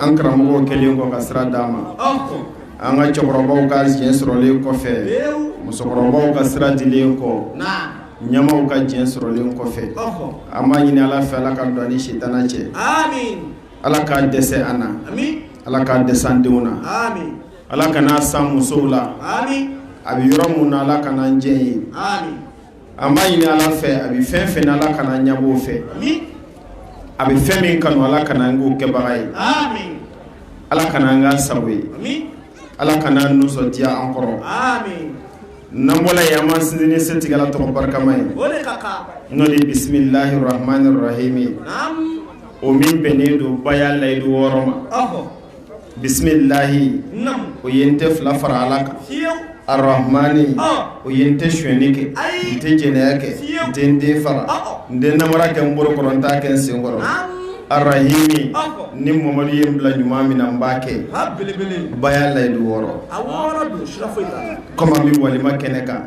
an karamɔgɔw kɛlen kɔ ka sira d'an ma an ka cɛkɔrɔbaw ka diɲɛ sɔrɔlen kɔfɛ musokɔrɔbaw ka sira dilen kɔ ɲɛmaaw ka diɲɛ sɔrɔlen kɔfɛ an b'a ɲini ala fɛ ala ka don an ni sitanɛ cɛ ala k'a dɛsɛ an na ala k'a dɛsɛ an denw na ala kan'a s'an musow la a bɛ yɔrɔ min na ala kan'an jɛ yen An b'a ɲini ala fɛ a bɛ fɛn fɛn ala kan'an ɲabɔ o fɛ a bɛ fɛn min kanu ala kan'an k'o kɛbaga ye ala kan'an k'a sago ye ala kan'a nisɔndiya an kɔrɔ n'an bɔra yen an b'an sinsin ni setigi ala tɔgɔ barikama ye n'o de bisimilahi rahamani rahimi o min bɛnnen don baya layidu wɔɔrɔ ma Bisimilahi o ye n tɛ fila fara ala kan arahamani o ye n tɛ sonyani kɛ n tɛ jɛnɛya kɛ n tɛ n den faga n tɛ namara kɛ n bolo kɔrɔ n t'a kɛ n sen kɔrɔ arahimi ni mamadu ye n bila ɲuman min na n b'a kɛ baya layidu wɔɔrɔ kɔmi an bɛ walima kɛnɛ kan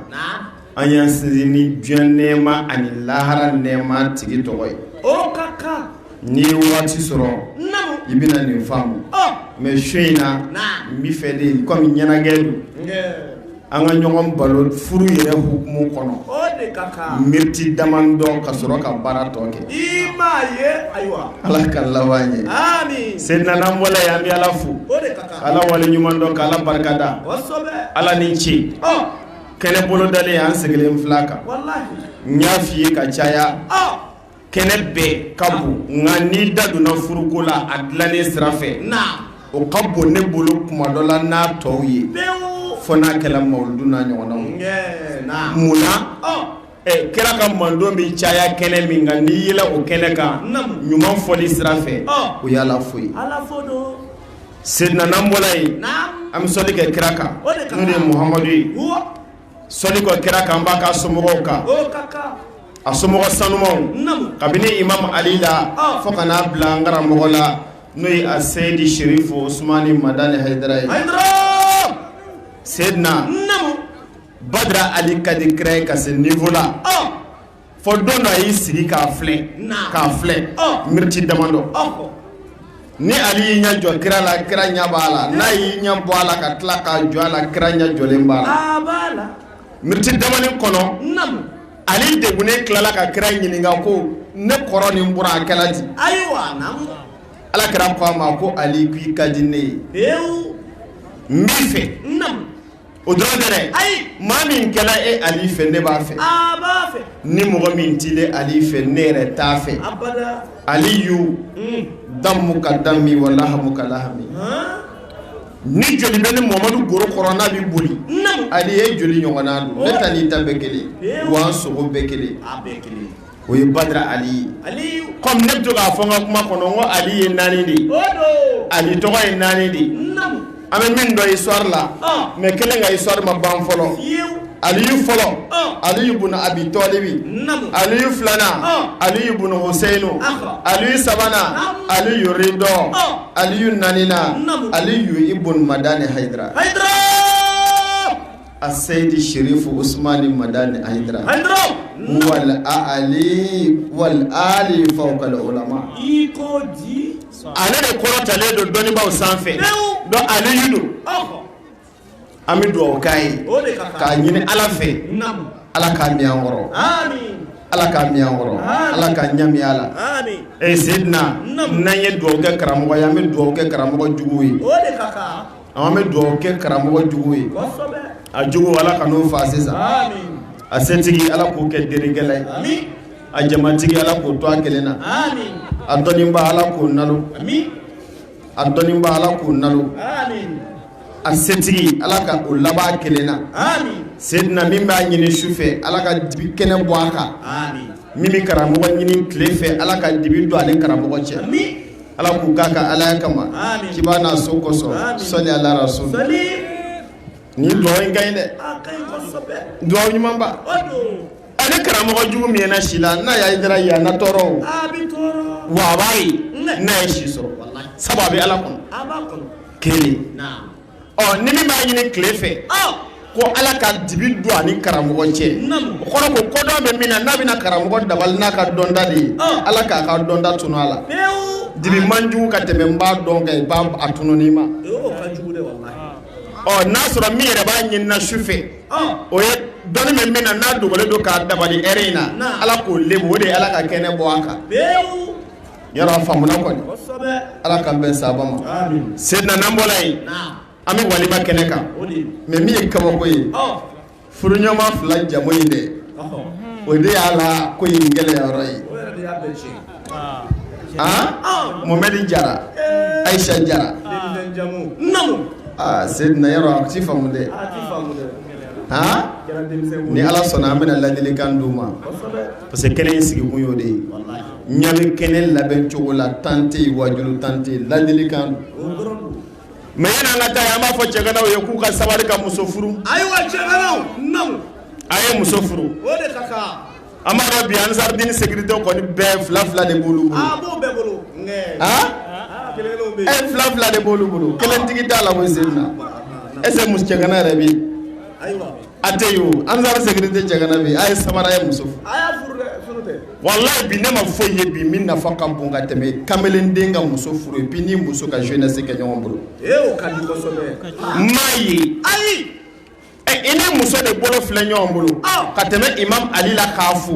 an y'an sinsin ni diɲɛ nɛɛma ani lahara nɛɛma tigi tɔgɔ ye, o ka kan, n'i ye waati sɔrɔ, naamu, i bɛna nin faamu, ɔɔ, mais su in na, naamu, n bɛ fɛ de comme ɲɛnajɛ don, nge, an ka ɲɔgɔn baro furu yɛrɛ hukumu kɔnɔ, o de ka kan, minutes damadɔ ka sɔrɔ ka baara tɔ kɛ, i m'a ye, ayiwa, Ala k'an laban ɲɛ, aami, Seyidina n'an bɔra yen an bɛ Ala fo, o de ka kan, ka Ala waleɲuman dɔn, ka Ala barikada, kosɛbɛ, Ala ni ce, ɔɔ kɛnɛ bolodalen an sigilen filɛ a kan n y'a fɔ i ye ka caya kɛnɛ bɛɛ ka bon nka n'i da donna furuko la a dilanni sira fɛ o ka bon ne bolo kuma dɔ la n'a tɔw ye fo n'a kɛra mawuludu n'a ɲɔgɔnnaw munna Ɛ kira ka mantɔn bɛ caya kɛnɛ min kan n'i yɛlɛla o kɛnɛ kan ɲuman fɔli sira fɛ o y'ala fo ye seyidina n'an bɔra yen an bɛ sɔli kɛ kira kan muhamadu ye sɔli kɔ kira kan an b'a k'a somɔgɔw kan a somɔgɔ sanumanw kabini imamu ali la fo ka n'a bila an karamɔgɔ la n'o ye aseyidu serifu usumani madani hayidara ye seyidina Badara ali ka di kira ye ka se niveau la fo don dɔ a y'i sigi k'a filɛ k'a filɛ miniti damadɔ ni ali y'i ɲɛ jɔ kira la kira ɲɛ b'a la n'a y'i ɲɛ bɔ a la ka tila k'a jɔ a la kira ɲɛ jɔlen b'a la miniti damani kɔnɔ ali degunnen tilala ka kira ɲininka ko ne kɔrɔ ni n buran a kɛra di ala kira ko a ma ko ali k'i ka di ne ye n b'i fɛ O dɔrɔn tɛ dɛ, ayi, maa min kɛra e Aly fɛ ne b'a fɛ, aa n b'a fɛ, ni mɔgɔ min t'i ne Aly fɛ ne yɛrɛ t'a fɛ, abada, Aliyou damouka dami wa lahamouka lahami han, ni joli bɛ ne Mohamadu golo kɔrɔ n'a bɛ boli, naamu, Aly e joli ɲɔgɔnna don, ne ta n'i ta bɛɛ kelen ye, pewu, wa n sogo bɛɛ kelen, a bɛɛ kelen o ye badra ali ye kɔmi ne bɛ to k'a fɔ n ka kuma kɔnɔ ko ali ye naani de ye ali tɔgɔ ye naani de an bɛ min dɔn histoire la mɛ kelen ka histoire ma ban fɔlɔ aliyu fɔlɔ aliyu bun abi tɔɔlibi aliyu filanan aliyu bun hosɛyini aliyu sabanan aliyu rido aliyu naaninan aliyu ibun madani haydara a seydi sherifu ousmani madani aydra aydra wal ali wal ali fawkal ulama i ko di ale de kɔrɔtalen don dɔnnibaaw sanfɛ dɔn ale yi don an bɛ dugawu k'a ye k'a ɲini ala fɛ ala k'a mɛn an kɔrɔ ala k'a mɛn an kɔrɔ ala k'a ɲɛ mɛn a la e seyidina n'an ye dugawu kɛ karamɔgɔ ye an bɛ dugawu kɛ karamɔgɔ jugu ye An bɛ dugawu kɛ karamɔgɔ jugu ye a jugu ala kan'o fa sisan a setigi ala k'o kɛ delikɛla ye a jamatigi ala k'o to a kelen na a dɔnniba ala k'o nalon a dɔnniba ala k'o nalon a setigi ala ka o laban kelen na sedina min b'a ɲini su fɛ ala ka dibi kɛnɛ bɔ a kan min bɛ karamɔgɔ ɲini tile fɛ ala ka dibi don ani karamɔgɔ cɛ ala k'o k'a ka alaya kama kiba n'a so kosɔn sɔli ala rasul ni dugawu in ka ɲi dɛ dugawu ɲumanba a ni karamɔgɔ jugu mɛnna si la n'a y'a jira yan na tɔɔrɔ o wa a b'a ye n'a ye si sɔrɔ sabu a bɛ ala kɔnɔ kelen ɔ ni min b'a ɲini tile fɛ ko ala ka dibi don ani karamɔgɔ cɛ o kɔrɔ ko kodɔn bɛ min na n'a bɛna karamɔgɔ dabali n'a ka dɔnta de ye ala k'a ka dɔnta tunun a la dibi man jugu ka tɛmɛ n b'a dɔn ka i b'a a tununi ma ɔ n'a sɔrɔ min yɛrɛ b'a ɲinina su fɛ o ye dɔnni bɛ min na n'a dogolen don k'a dabali ɛri in na ala k'o lebu o de ye ala ka kɛnɛ bɔ a kan Yɔrɔ a faamuna kɔni, kosɛbɛ, Ala k'an bɛn sababu ma, amin, seyidina n'an bɔra yen, naamu, an bɛ walima kɛnɛ kan, o de ye, mais min ye kabako ye, ɔ, furuɲɔgɔnma fila jamu in dɛ, ɔhɔ, o de y'a la ko in gɛlɛya yɔrɔ ye, o yɛrɛ de y'a bɛɛ tiɲɛ, an, Mohamɛdi Jara, ee, Ayisa Jara, denmisɛn jamu, naamu, aa seyidina yɔrɔ a t'i faamu dɛ, a t'i faamu dɛ, an, a kɛra denmisɛn ko ye, ni Ala sɔnna an bɛna ladilikan d'u ma, kosɛbɛ parce que kɛnɛ in sigi kun y'o de ye, walahi, ɲagali kɛnɛ labɛn cogo la temps tɛ yen, waajuli temps tɛ yen, ladilikan don, o dɔrɔn don, mais yani an ka taa an b'a fɔ cɛganaw ye k'u ka sabali ka muso furu, ayiwa cɛganaw, naamu, a ye muso furu, o de ka kan, an b'a dɔn bi ansardini sécurité kɔni bɛɛ fila fila de b'olu bolo, a b'o bɛɛ bolo, nka, aa, kelen kelenw bɛ yen, ɛ fila fila de b'olu bolo, kelentigi t'a la koyi Seydina, est ce que cɛgana yɛrɛ bɛ yen? ayiwa A tɛ yen o ansar sécurité cɛgana bɛ a ye sabali a ye muso furu walahi bi ne ma foyi ye bi min nafa ka bon ka tɛmɛ kamalen den ka muso furu ye bi ni muso ka jeunesse kɛ ɲɔgɔn bolo maa ye ayi ɛ i ni muso de bolo filɛ ɲɔgɔn bolo ka tɛmɛ imam Ali la k'a fo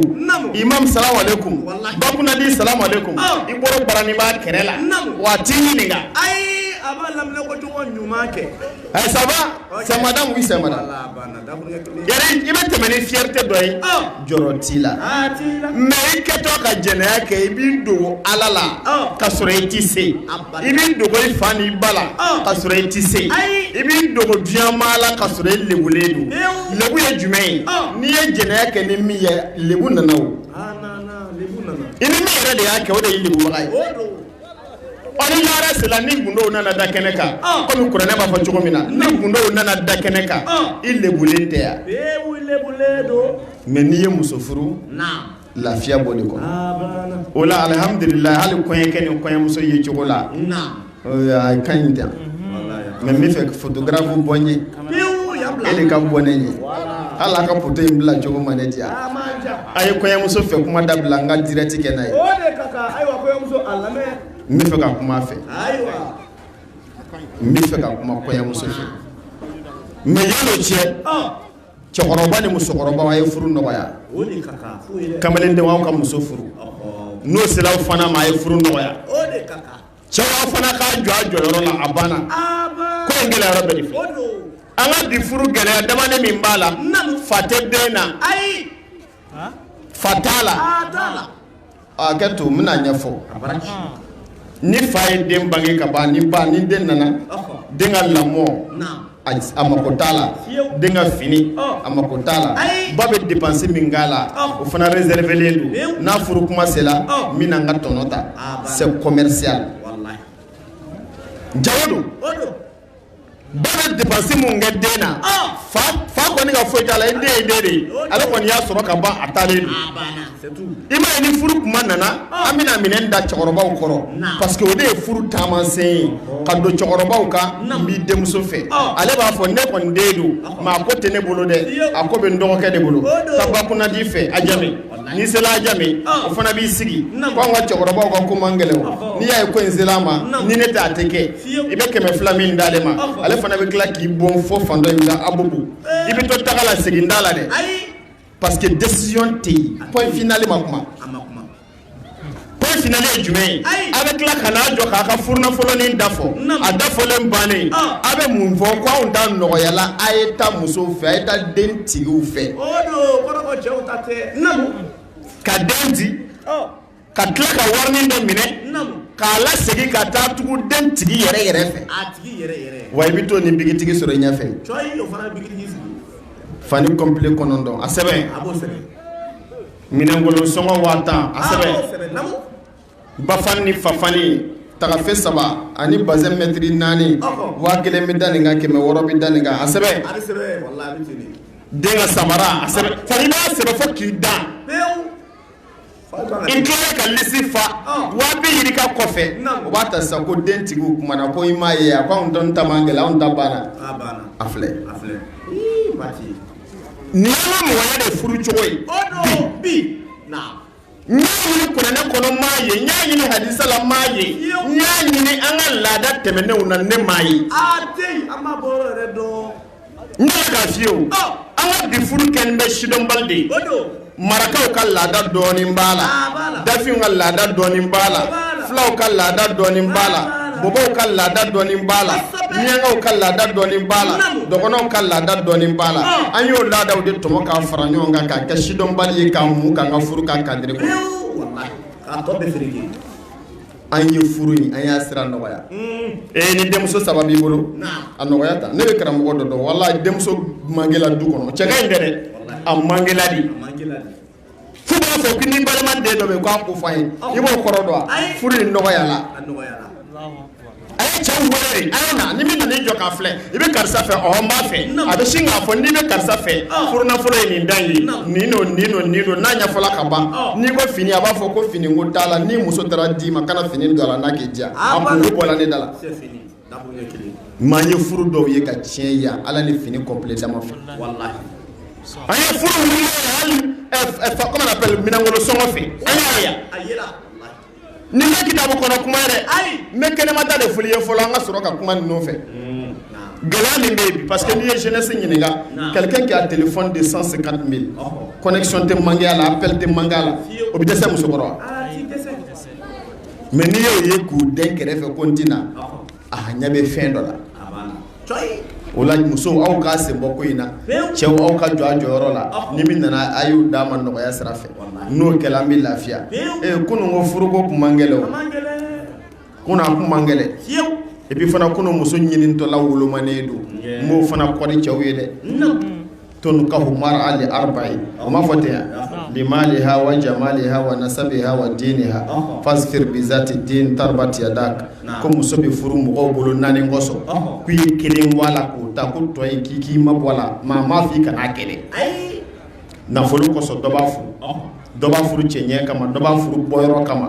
imam salamu aleykum ba kunnadi salamu aleykum i bolo bara ni b'a kɛrɛ la waati ɲini ayi a b'a lam ko ɲuman kɛ A saba sɛda sɛ i bɛ tɛmɛ ni fierté dɔ ye jɔrɔ t'i la mais i kɛtɔ ka jɛnɛya kɛ i bɛ dogo ala la ka sɔrɔ i tɛ se i bɛ dogo i fa ni ba la ka sɔrɔ i tɛ se i bɛ dogo jama la ka sɔrɔ i lebulen don lebu ye jumɛn ye n'i ye jɛnɛya kɛ ni min ye lebu nana i ni min yɛrɛ de y'a kɛ o de ye lebu ye la ni gundow nana da kɛnɛ kan comme kuranɛ b'a fɔ cogo min na ni gundow nana da kɛnɛ kan i lebulen tɛ yan mais n'i ye muso furu lafiya b'o de kɔnɔ o la alihamdulila hali kɔɲɔkɛ ni kɔɲɔmuso ye cogo la ka ɲi tɛ mais n bɛ fɛ photographe bɔ n ye e de ka bɔ ne ye hali a ka photo in bila cogo ma ne diya a ye kɔɲɔmuso fɛ kuma dabila n ka direct kɛ n'a ye n bɛ fɛ ka kuma a fɛ n bɛ fɛ ka kuma kɔɲɔmuso fɛ mais yalo cɛ cɛkɔrɔba ni musokɔrɔba a ye furu nɔgɔya kamalen de ka muso furu n'o sera fana ma a ye furu nɔgɔya cɛ fana k'a jɔ a jɔyɔrɔ la a banna ko in gɛlɛya yɔrɔ bɛ de fɛ an ka bi furu gɛlɛya damani min b'a la fa tɛ den na fa t'a la a kɛ to n bɛna ɲɛfɔ ni fa ye den bange ka ban ni ba ni den nana den ka lamɔ a mako t'a la den ka fini a mako t'a la ba bɛ dépense min k'a la o fana réserver len don n'a furu kuma sera n bɛna n ka tɔnɔ ta c'est commercial jago don ba bɛ dépense min kɛ den na fa kɔni ka foyi t'a la i den ye n den de ye ale kɔni y'a sɔrɔ ka ban a taalen don. I m'a ye ni furu kuma nana an bɛna minɛ da cɛkɔrɔbaw kɔrɔ parce que o de ye furu taamasen ye ka don cɛkɔrɔbaw kan n b'i denmuso fɛ ale b'a fɔ ne kɔni den don mais a ko tɛ ne bolo dɛ a ko bɛ n dɔgɔkɛ de bolo ka ba kunnadi fɛ Ajame n'i sera Ajame o fana b'i sigi k' anw ka cɛkɔrɔbaw ka ko man gɛlɛn n'i y'a ye ko in sera a ma ni ne tɛ a tɛ kɛ i bɛ kɛmɛ fila min d'ale ma ale fana bɛ tila k'i bon fo fan in Abobo i bɛ to tagala segin da la dɛ Parce que décision tɛ yen point final ma kuma point final ye jumɛn ye a bɛ tila ka n'a jɔ k'a ka furunafolonin da fɔ a da fɔlen bannen a bɛ mun fɔ ko anw ta nɔgɔyala a ye taa musow fɛ a ye taa den tigiw fɛ ka den di ka tila ka wari dɔ minɛ k'a lasegin ka taa tugu den tigi yɛrɛ yɛrɛ fɛ wa i bɛ t'o ni bikitigi sɔrɔ i ɲɛfɛ fani kɔnpile kɔnɔntɔn a sɛbɛn minɛnkolon sɔngɔ waa tan a sɛbɛn bafan ni fafani tagafe saba ani bazɛn mɛtiri naani waa kelen bɛ da nin kan kɛmɛ wɔɔrɔ bɛ da nin kan a sɛbɛn den ka samara a sɛbɛn fani b'a sɛbɛn fo k'i dan I kɛlen ka lisi fa waa bi yirika kɔfɛ u b'a ta sisan ko den tigi o tuma na ko i m'a ye a ko anw dun ta man gɛlɛn anw ta banna a banna a filɛ a filɛ ii Mati nin y'an ka mɔgɔya de furu cogo ye o don bi naam n y'a ɲini kuranɛ kɔnɔ n m'a ye n y'a ɲini hadisa la n m'a ye n y'a ɲini an ka laada tɛmɛnenw na ne m'a ye aa deyi an m'a bɔyɔrɔ yɛrɛ dɔn N fiyewu an ka bi furu kɛlen bɛ sidɔnbali de marakaw ka laada dɔɔnin b'a la dafinw ka laada dɔɔnin b'a la fulaw ka laada dɔɔnin b'a la bɔbɔw ka laada dɔɔnin b'a la miyankaw ka laada dɔɔnin b'a la dɔgɔnɔw ka laada dɔɔnin b'a la an y'o laadaw de tɔmɔ ka fara ɲɔgɔn kan ka kɛ sidɔnbali ye ka mun kɛ ka furu kan kari an ye furu in an y'a sira nɔgɔya ee ni denmuso saba b'i bolo a nɔgɔya ta ne bɛ karamɔgɔ dɔ dɔn wala denmuso man gɛlɛn a du kɔnɔ cɛ in yɛrɛ a man gɛlɛn dɛ fo a b'a fɔ ko n'i balima den dɔ bɛ k'a kofɔ a ye i b'o kɔrɔ dɔn furu in nɔgɔyala a ye cɛ wɛrɛ a na ni min nana i jɔ k'a filɛ i bɛ karisa fɛ ɔ n b'a fɛ a bɛ sin k'a fɔ n'i bɛ karisa fɛ furunafolo ye nin dan ye nin don nin don nin don n'a ɲɛfɔla ka ban n'i ko fini a b'a fɔ ko fini ko t'a la ni muso taara d'i ma kana fini don a la n'a k'i diya a bolo bɔra ne da la mais an ye furu dɔw ye ka tiɲɛ yan Ala ni fini kɔnpile dama fɛ an ye furu wuli hali minɛnkolon sɔngɔ fɛ an y'a ye yan Nin tɛ kitabu kɔnɔ kuma ye dɛ, ayi, n bɛ kɛnɛma ta de f'u ye fɔlɔ an ka sɔrɔ ka kuma ninnu fɛ, unhun, gɛlɛya min bɛ yen parce que n'i ye jeunesse ɲininka quelqu'un qui a téléphone de 150 mille connexion tɛ manquer a la appel tɛ manquer a la o bɛ dɛsɛ muso kɔrɔ wa? mais n'i y'o ye k'u den kɛrɛfɛ ko n tɛna a ɲɛ bɛ fɛn dɔ la o la musow aw k'a sen bɔ ko in na cɛw aw ka jɔ a jɔyɔrɔ la ni min nana a y'u d'a ma nɔgɔya sira fɛ n'o kɛla an bɛ lafiya kunun ko furuko tun man gɛlɛn kunun a tun man gɛlɛn et puis fana kunun muso ɲinitɔla wolomanen don n b'o fana kɔni cɛw ye dɛ tunkahu mara li arba'in a ma fɔ ten wa limaliha wa jamaliha wa nasabiha wa diniha fazfar bizati dini taribat yadak ko muso bɛ furu mɔgɔw bolo naani kɔsɔn k'i ye kelen bɔ a la k'o ta ko tɔw k'i k'i mabɔ a la maa ma f' i kana a kɛ dɛ nafolo kɔsɔn dɔ b'a furu dɔ b'a furu cɛɲɛ kama dɔ b'a furu bɔyɔrɔ kama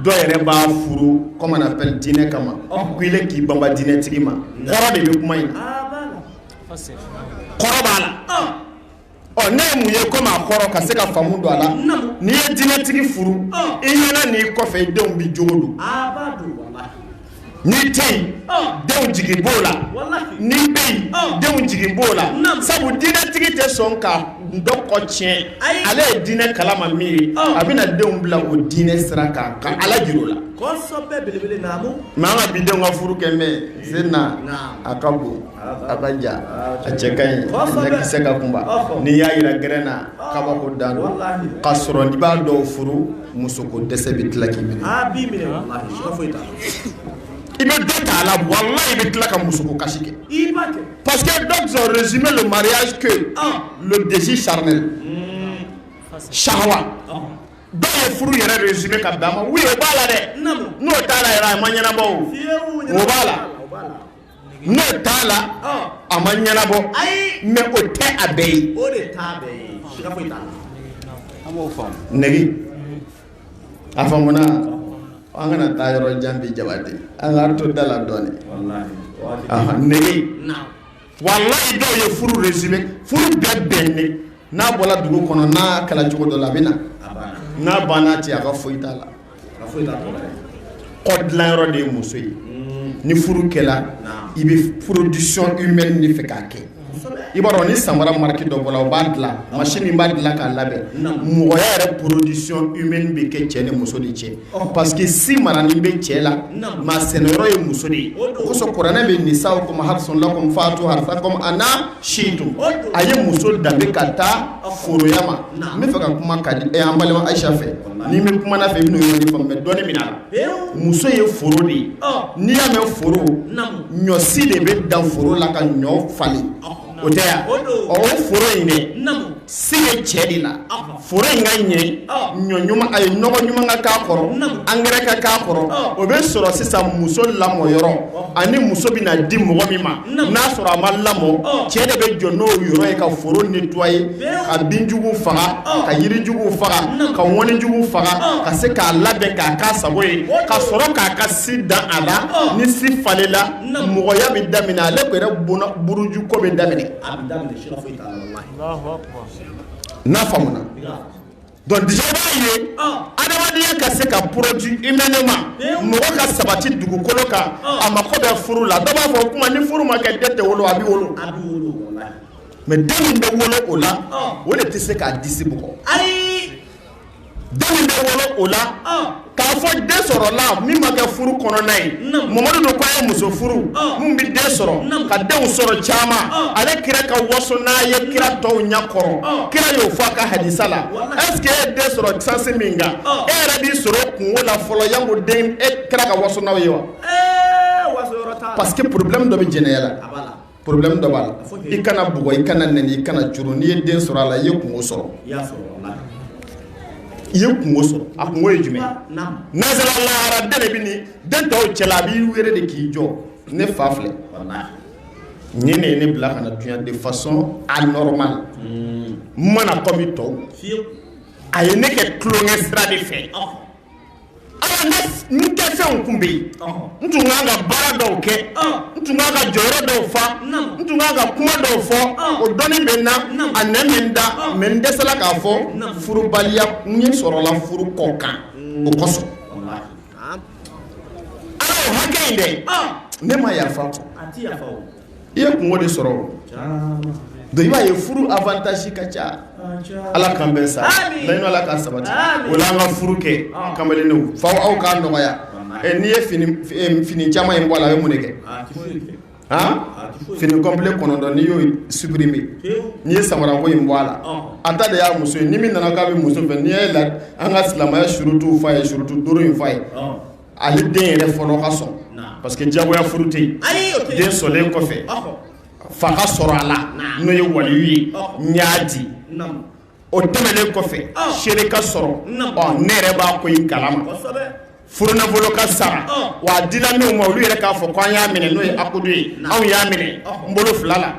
dɔw yɛrɛ b'a furu comment on appelle dinɛ kama k'i de k'i banban dinɛtigi ma kɔrɔ de bɛ kuma in kɔrɔ b'a la ɔ ne ye mun ye kuma in kɔrɔ ka se ka faamu don a la n'i ye dinɛtigi furu i ɲɛna n'i kɔfɛ i denw bɛ jogo don n'i tɛ yen denw jigi b'o la n'i bɛ yen denw jigi b'o la sabu dinɛtigi tɛ sɔn ka dɔ kɔ tiɲɛ ale ye dinɛ kala ma min ye a bɛna denw bila o dinɛ sira kan ka ala jira o la mais an ka bi denw ka furu kɛ mɛ sen na a ka bon a ka jan a cɛ ka ɲi ɲɛkisɛ ka kunba n'i y'a jira gɛrɛn na kabako dan don ka sɔrɔ n'i b'a dɔw furu musoko dɛsɛ bɛ tila k'i minɛ i bɛ dɔ ta a la walahi i bɛ tila ka musoko kasi kɛ parce que d'aucuns ont résumé le mariage que le désir charnel sahawa dɔw ye furu yɛrɛ résumé ka bɛn a ma oui o b'a la dɛ n'o t'a la yɛrɛ a ma ɲɛnabɔ o o b'a la N'o t'a la a ma ɲɛnabɔ mais o tɛ a bɛɛ ye o de a faamuna an kana taa yɔrɔ jan bi jaba de an ka to da la dɔɔnin walahi dɔw ye furu résumé furu bɛɛ bɛn de n'a bɔra dugu kɔnɔ n'a kɛla cogo dɔ la a bɛ na n'a banna cɛ a ka foyi t'a la Kɔ dilan yɔrɔ de ye muso ye ni furu kɛla i bɛ production humaine de fɛ k'a kɛ i b'a dɔn ni samara marque dɔ bɔra o b'a dilan machine min b'a dilan k'a labɛn mɔgɔ yɛrɛ production humaine bɛ kɛ cɛ ni muso de cɛ parce que si maranen bɛ cɛ la maa sɛnɛ yɔrɔ ye muso de ye osɔ kuranɛ bɛ nisa hasafato a si don a ye muso danbe ka taa foroya ma n bɛ fɛ ka kuma ka di e an balima ayisa fɛ ni bɛ kuma fɛ n'o yɔrɔ dɔnni min na muso ye foro de ye n'i y'a mɛn foro ɲɔsi de bɛ dan foro la ka ɲɔ falen o tɛ yan o foro in dɛ se cɛ de la foro in ka ɲɛ ɲɔ ɲuman a ye nɔgɔ ɲuman ka k'a kɔrɔ engrais ka k'a kɔrɔ o bɛ sɔrɔ sisan muso lamɔ yɔrɔ ani muso bɛna di mɔgɔ min ma n'a sɔrɔ a ma lamɔ cɛ de bɛ jɔ n'o yɔrɔ ye ka foro nettoyer ka binjugu faga ka yirijugu faga ka ŋɔnijugu faga ka se k'a labɛn k'a ka sago ye ka sɔrɔ k'a ka si dan a la ni si falenla mɔgɔya bɛ daminɛ ale yɛrɛ bon burujuko bɛ daminɛ n'a faamuya Donc i b'a ye adamadenya ka se ka produit humainement mɔgɔ ka sabati dugukolo kan a mako bɛ furu la dɔ b'a fɔ kuma ni furu ma kɛ den tɛ wolo a bɛ wolo mais den min bɛ wolo o la o de tɛ se k'a disi bugɔ den min bɛ wolo o la K'a fɔ den sɔrɔ la min ma kɛ furu kɔnɔna ye mamadu don k'a ye muso furu min bɛ den sɔrɔ ka denw sɔrɔ caman ale kira ka waso n'a ye kira tɔw ɲɛ kɔrɔ kira y'o fɔ a ka hadisa la est-ce que i ye den sɔrɔ sansi min kan e yɛrɛ b'i sɔrɔ kunko la fɔlɔ janko den e kira ka waso n'aw ye wa parce que problème dɔ bɛ jɛnɛya la problème dɔ b'a la i kana bugɔ i kana nɛni i kana juru n'i ye den sɔrɔ a la i ye kunko sɔrɔ i ye kunko sɔrɔ a kunko ye jumɛn n'an sera lahara den de bɛ ni den tɔw cɛla a b'i wele de k'i jɔ ne fa filɛ nin de ye ne bila ka na dunya de façon anormal n ma na kɔmi tɔw a ye ne kɛ tulonkɛ sira de fɛ n kɛ fɛnw tun bɛ yen n tun kan ka baara dɔw kɛ n tun kan ka jɔyɔrɔ dɔw fa n tun kan ka kuma dɔw fɔ o dɔnni bɛ na a nɛ min da mais n dɛsɛla k'a fɔ furubaliya n ye sɔrɔla furu kɔkan o kosɔn ala hakɛ in dɛ ne ma yafa i ye kunko de sɔrɔ i b'a ye furu avantage ka ca ala k'an bɛ sa ala ka sabati o la an ka furu kɛ kamalendenw fa aw ka nɔgɔya n'i ye fini caman in bɔ a la a bɛ mun kɛ fini complet kɔnɔntɔn n'i y'o supprimer n'i ye samara ko in bɔ a la a ta de y'a muso ye ni min nana k'a bɛ muso fɛ n'i y' la an ka silamɛya surutu fa ye surutu duuru in fa ye Ale den yɛrɛ fɔlɔ ka sɔn parce que jagoya furu tɛ yen den sɔnlen kɔfɛ fa ka sɔrɔ a la n'o ye waliyu ye y'a di o tɛmɛnen kɔfɛ seere ka sɔrɔ ne yɛrɛ b'a ko in kala ma furunafolo ka sara wa a dila minnu ma olu yɛrɛ k'a fɔ ko an y'a minɛ n'o ye akudu ye anw y'a minɛ n bolo fila la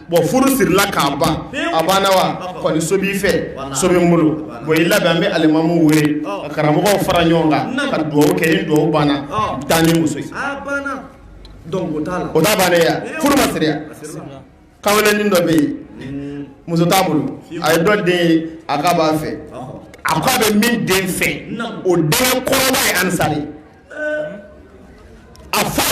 bɔn furu sirila k'a ban a banna wa kɔni so b'i fɛ so bɛ n bolo bɔn i labɛn an bɛ alimamu wele ka karamɔgɔw fara ɲɔgɔn kan ka dugawu kɛ ni dugawu banna taa n'i muso ye o t'a bannen ye furu ma siri wa kamalennin dɔ bɛ yen muso t'a bolo a ye dɔ den ye a k'a b'a fɛ a k'a bɛ min den fɛ o den kɔrɔba ye ansari a fa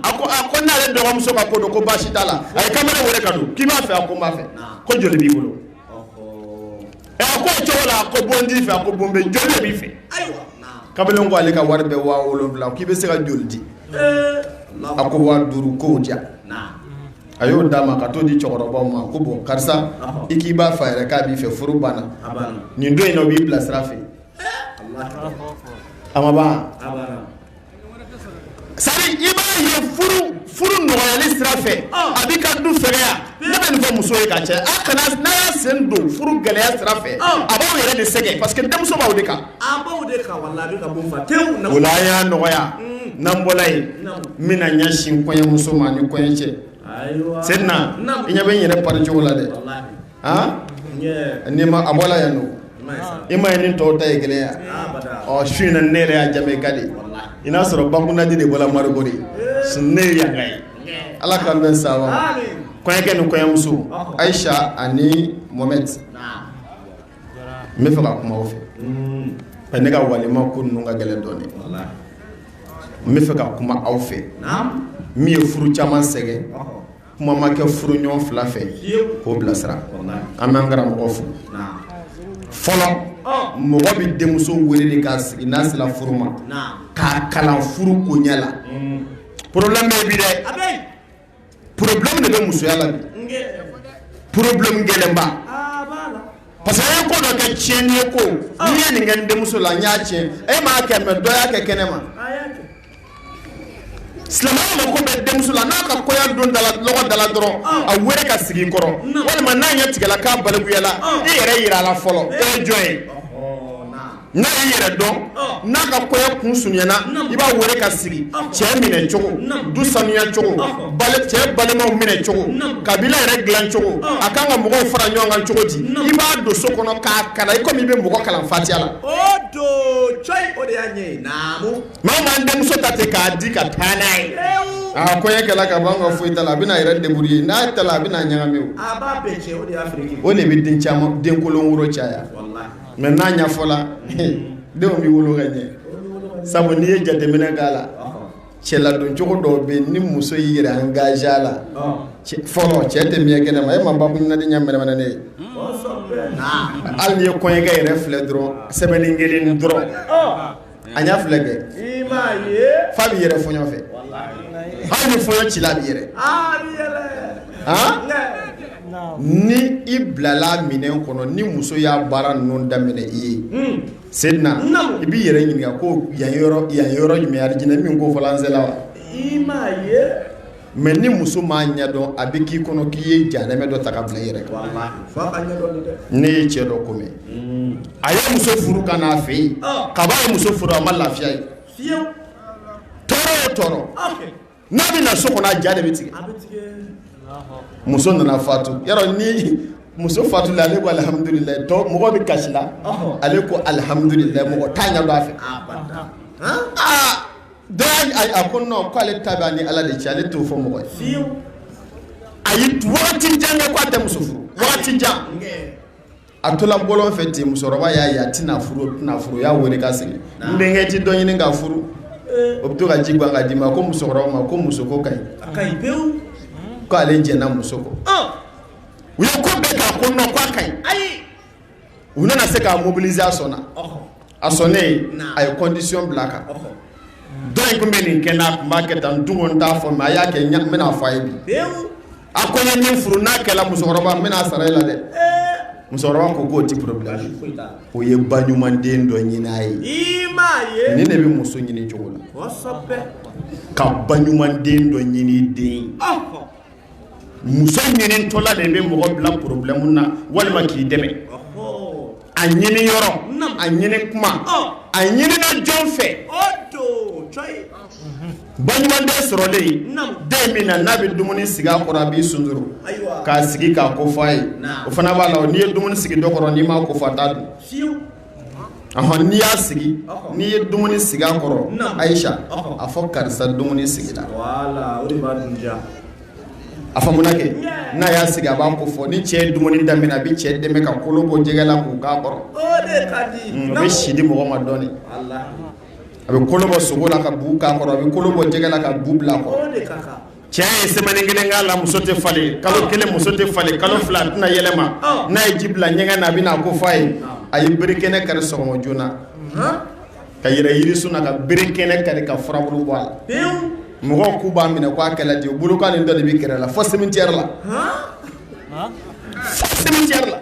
a ko a ko n'ale dɔgɔmuso ka ko don ko baasi t'a la a ye kamalen wele ka don k'i b'a fɛ a ko n b'a fɛ ko joli b'i bolo ɛ a ko o cogo la a ko bon t'i fɛ a ko bon bɛ joli de b'i fɛ kamalen ko ale ka wari bɛ waa wolonwula k'i bɛ se ka joli di a ko waa duuru k'o di yan a y'o d'a ma ka t'o di cɛkɔrɔbaw ma ko bɔn karisa i k'i b'a fɛ a yɛrɛ k'a b'i fɛ furu banna nin don in na o b'i bilasira fɛ nɔgɔyali sira fɛ a bɛ ka du fɛ ne bɛ nin fɔ muso ye ka caya kana n'a y'a sen don furu gɛlɛya sira fɛ a b'aw yɛrɛ de sɛgɛn parce que denmuso b'aw de kan a b'aw de kan wala a bɛ ka bɔ fa tewu o la an y'a nɔgɔya n'an bɔla yen n bɛna ɲɛsin kɔɲɔmuso ma ni kɔɲɔcɛ Seyidina i ɲɛ bɛ n yɛrɛ pari cogo la dɛ. n'i ma a bɔ la yan don i ma ye ni tɔw ta ye gɛlɛya ɔ su in ne yɛrɛ y'a ja ka di i n'a sɔrɔ bakundaji de bɔra mari kori ne ye yan ye ala k'an bɛ sa kɔɲɔkɛ ni kɔɲɔmuso ayisa ani mɔhamɛdi n bɛ fɛ ka kuma aw fɛ ka ne ka walima ko ninnu ka gɛlɛn dɔɔnin n bɛ fɛ ka kuma aw fɛ min ye furu caman sɛgɛn kuma ma kɛ furuɲɔgɔn fila fɛ k'o bilasira an bɛ an karamɔgɔ fo fɔlɔ mɔgɔ bɛ denmuso wele k'a sigi n'a sera furu ma k'a kalan furu bonya la problème bɛ bi dɛ problème de bɛ musoya la problème gɛlɛnba parce que ye ko dɔ kɛ tiɲɛni ye ko n'i ye nin kɛ denmuso la i y'a tiɲɛ e m'a kɛ mais dɔ y'a kɛ kɛnɛ ma Silamɛ mako bɛ denmuso la n'a ka kɔɲɔ don da dala dɔrɔn a weele k'a sigi i kɔrɔ walima n'a ɲɛ tigɛla k'a balikuyala i yɛrɛ jira a la fɔlɔ jɔn ye n'a y'i yɛrɛ dɔn n'a ka kɔɲɔ kun surunyana i b'a weele k'a sigi cɛ minɛ cogo du sanuya cogo cɛ balimaw minɛ cogo kabila yɛrɛ dilan cogo a kan ka mɔgɔw fara ɲɔgɔn kan cogo di i b'a don so kɔnɔ k'a kalan i kɔmi i bɛ mɔgɔ kalan fatiya la Maa maa denmuso ta ten k'a di ka taa n'a ye aa ko e kɛlɛ ka bɔ ka foyi ta la a bɛna yɛrɛ débrouiller n'a ta a bɛna ɲagami o de bɛ den caman denkolon wolo caya mɛ n'a ɲɛfɔla denw bɛ wolo ka ɲɛ sabu n'i ye jateminɛ k'a la cɛ ladoncogo dɔw bɛ ni muso y'i yɛrɛ engager a la fɔlɔ cɛ tɛ miɲɛ kɛnɛ ma e ma babu naani ɲɛ mɛnɛnen ye hali n'i ye kɔɲɔkɛ yɛrɛ filɛ dɔrɔn semaine kelen dɔrɔn A y'a filɛ kɛ fa bɛ yɛrɛ fɔɲɔ fɛ hali ni fɔɲɔ cila bɛ yɛrɛ ni i bilala minɛ kɔnɔ ni muso y'a baara ninnu daminɛ i sen na i b'i yɛrɛ ɲininka ko yan yɔrɔ jumɛn alijinɛ min ko fɔla an sera wa mɛ ni muso m'a ɲɛdɔn a bɛ k'i kɔnɔ k'i ye jahanamɛ dɔ ta ka bila i yɛrɛ ne ye cɛ dɔ ko mɛn a ye muso furu ka n'a fɛ yen kab'a ye muso furu a ma lafiya ye tɔɔrɔ tɔɔrɔ n'a bɛ na so kɔnɔ a ja de bɛ tigɛ muso nana fatu ni muso fatula ale ko alihamdulila mɔgɔ bɛ kasi la ale ko alihamdulila mɔgɔ t'a dɔn a fɛ Da a ko nɔn k'ale ta b'a ni ala de cɛ ale t'o fɔ mɔgɔ ye a ye waati jan kɛ k'a tɛ muso furu waati jan a tola bɔlɔn fɛ ten musokɔrɔba y'a ye a tɛna furu tɛna furu y'a weele k'a sigi denkɛ i tɛ dɔ ɲini ka furu o bɛ to ka ji gan ka d'i ma ko musokɔrɔba ma ko muso ko ka ɲi k'ale jɛnna muso kɔ u ye ko bɛɛ' ko nɔn ka ɲi u nana se k'a mobiliser a sɔnna, ɔhɔ, a sɔnnen a ye condition bila a kan, ɔhɔ, dɔ in tun bɛ nin kɛ n na a tun b'a kɛ tan n tun ko n t'a fɔ mais a y'a kɛ n bɛna fɔ a ye bi, pewu, a ko n ye min furu n'a kɛra musokɔrɔba n bɛna sara e la dɛ, ee, musokɔrɔba ko k'o tɛ problème ye, baasi foyi t'a la, o ye ba ɲuman den dɔ ɲini a ye, i m'a ye, nin de bɛ muso ɲini cogo la, kosɛbɛ, ka ba ɲuman den dɔ ɲini i den ye, ɔhɔ muso ɲinintɔla de bɛ mɔgɔ bila porobilɛmu na walima k'i dɛmɛ a ɲini yɔrɔ a ɲini kuma a ɲinina jɔn fɛ ba ɲuman den sɔrɔlen den min na n'a bɛ dumuni sigi a kɔrɔ a b'i sun k'a sigi k'a ko fɔ a ye o fana b'a la n'i ye dumuni sigi dɔ kɔrɔ n'i m'a ko fɔ a t'a dun n'i y'a sigi n'i ye dumuni sigi a kɔrɔ ayi a fɔ karisa dumuni sigi a kɛ n'a y'a sigi a b'a ko fɔ ni cɛ dumuni daminɛ a bɛ cɛ dɛmɛ ka kolo bɔ jɛgɛ la k'o k'a kɔrɔ o bɛ si di mɔgɔ ma dɔɔnin a bɛ kolo bɔ sogo la ka bu k'a kɔrɔ a bɛ kolo bɔ jɛgɛ la ka bu bil'a kɔrɔ Cɛ ye semaine 1 k'a la muso tɛ falen kalo 1 muso tɛ falen kalo 2 a tɛna yɛlɛma n'a ye ji bila ɲɛgɛn na a bɛna a ko fɔ a ye a ye bere kɛnɛ kari sɔgɔma joona ka yɛlɛ yirisun na ka bere kɛnɛ kari ka furabulu bɔ a la mɔgɔw k'u b'a minɛ k'a kɛlɛ ten bolokan nin dɔ de bɛ kɛrɛ la fɔ cimetière la fɔ cimetière la.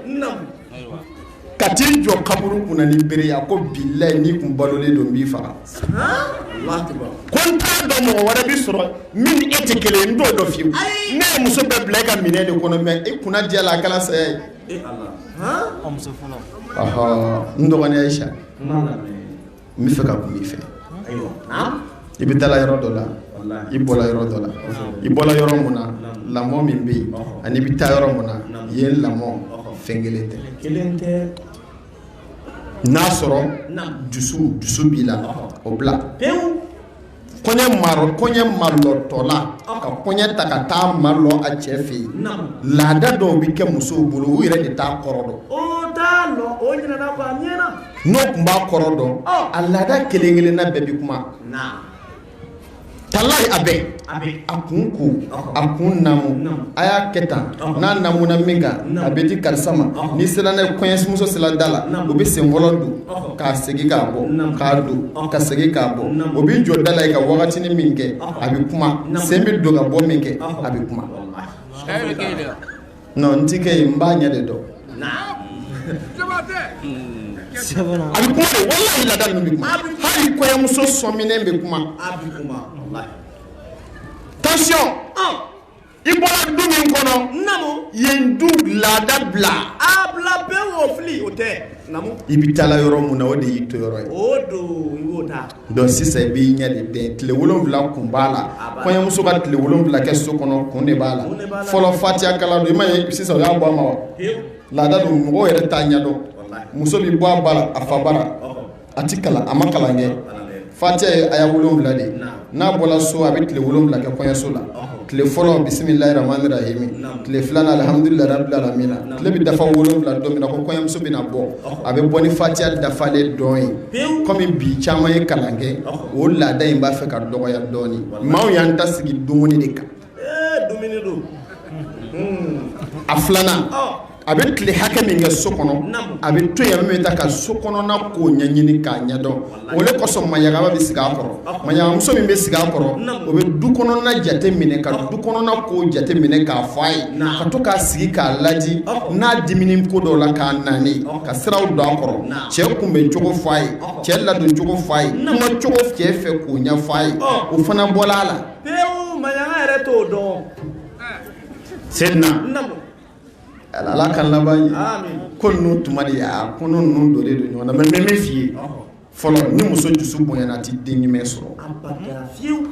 ka t'i jɔ kaburu kunna ni bere ye a ko bilayi n'i kun balolen don n b'i faga ko n t'a dɔn mɔgɔ wɛrɛ bɛ sɔrɔ min ni e tɛ kelen ye n t'o dɔn fiyewu ne ye muso bɛɛ bila e ka minɛn de kɔnɔ mais e kunnadiyala a kɛra saya ye n dɔgɔnin Ayisa n b'a fɛ ka kuma i fɛ i bɛ taala yɔrɔ dɔ la i bɔra yɔrɔ dɔ la i bɔra yɔrɔ min na lamɔ min bɛ yen ani i bɛ taa yɔrɔ min na yen lamɔ fɛn kelen tɛ n'a sɔrɔ dusu dusu b'i la o bila kɔɲɛ marɔ kɔɲɛ malɔtɔla ka kɔɲɛ ta ka taa malɔ a cɛ fɛ yen laada dɔw bɛ kɛ musow bolo u yɛrɛ de t'a kɔrɔ dɔn n'o tun b'a kɔrɔ dɔn a laada kelen kelen na bɛɛ bɛ kuma talayi a bɛɛ a kun ko a kun namu a y'a kɛ tan n'a namu na min kan a bɛ di karisa ma n'i sera n'a ye kɔɲɛmuso sera da la u bɛ sen fɔlɔ don ka segin k'a bɔ k'a don ka segin k'a bɔ o bɛ jɔ da la yen ka wagatinin min kɛ a bɛ kuma sen bɛ don ka bɔ min kɛ a bɛ kuma non n ti kɛ yen n b'a ɲɛ de dɔn a bɛ kuma de walahi laada ninnu bɛ kuma hali kɔɲɔmuso sɔminen bɛ kuma tension i bɔra du min kɔnɔ namu yen du laada bila a bila bɛɛ wo fili o tɛ namu i bɛ taala yɔrɔ mun na o de y'i toyɔrɔ ye o don i b'o ta donc sisan i b'i ɲɛ de dɛn tile wolonwula kun b'a la kɔɲɔmuso ka tile wolonwula kɛ so kɔnɔ kun de b'a la fɔlɔ fatiya kalan don i m'a ye sisan o y'a bɔ a ma wa laada don mɔgɔw yɛrɛ t'a ɲɛ dɔn muso bɛ bɔ a bara a fa bara a tɛ kalan a ma kalan kɛ fatiya ye aya wolowula de n'a bɔra so a bɛ tile wolowula kɛ kɔɲɔso la tile fɔlɔ bisimilayi rahamani rahimi tile filanan alihamdulilayi rabilalamina tile bɛ dafa wolowula don min na ko kɔɲɔmuso bɛna bɔ a bɛ bɔ ni fatiya dafalen dɔn ye kɔmi bi caman ye kalan kɛ o laada in b'a fɛ ka dɔgɔya dɔɔnin maaw y'an ta sigi dumuni de kan a filanan a bɛ tile hakɛ min kɛ so kɔnɔ a bɛ to bɛ ta ka so kɔnɔna ko ɲɛɲini k'a ɲɛdɔn o de kosɔn maɲamaga bɛ sigi a kɔrɔ maɲamagamuso min bɛ sigi a kɔrɔ o bɛ du kɔnɔna jate minɛ ka du kɔnɔna ko jate minɛ k'a fɔ a ye ka to k'a sigi k'a laji n'a dimina ko dɔ la k'a naani ka siraw don a kɔrɔ cɛ kunbɛncogo fɔ a ye cɛ ladoncogo fɔ a ye kumacogo cɛ fɛ k'o ɲɛ fɔ a ye o fana bɔla a la pewu maɲanga yɛrɛ t'o dɔn sedina namu ala ala k'an laban ɲɛ Amin. ko ninnu tuma de y'a ko ninnu donnen don ɲɔgɔn na mais n bɛ min f'i ye fɔlɔ ni muso dusu bonyana a tɛ den ɲuman sɔrɔ abada fiyewu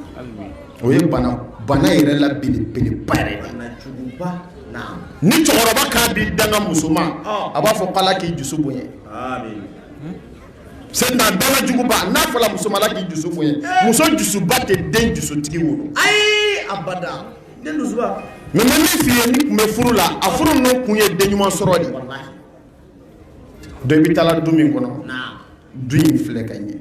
o ye bana bana yɛrɛ la belebeleba yɛrɛ de ye. na juguba na ni cɛkɔrɔba k'a bɛ danga muso ma Ɔ. a b'a fɔ k'ala k'i dusu bonya Amin. C'est un danga juguba n'a fɔra muso ma Ala k'i dusu bonya muso dusuba tɛ den dusutigi wolo ayi abada den dusuba mais n bɛ min f'i ye ni tun bɛ furu la a furu ninnu kun ye den ɲuman sɔrɔ de donc i bɛ taa du min kɔnɔ du in filɛ ka ɲɛ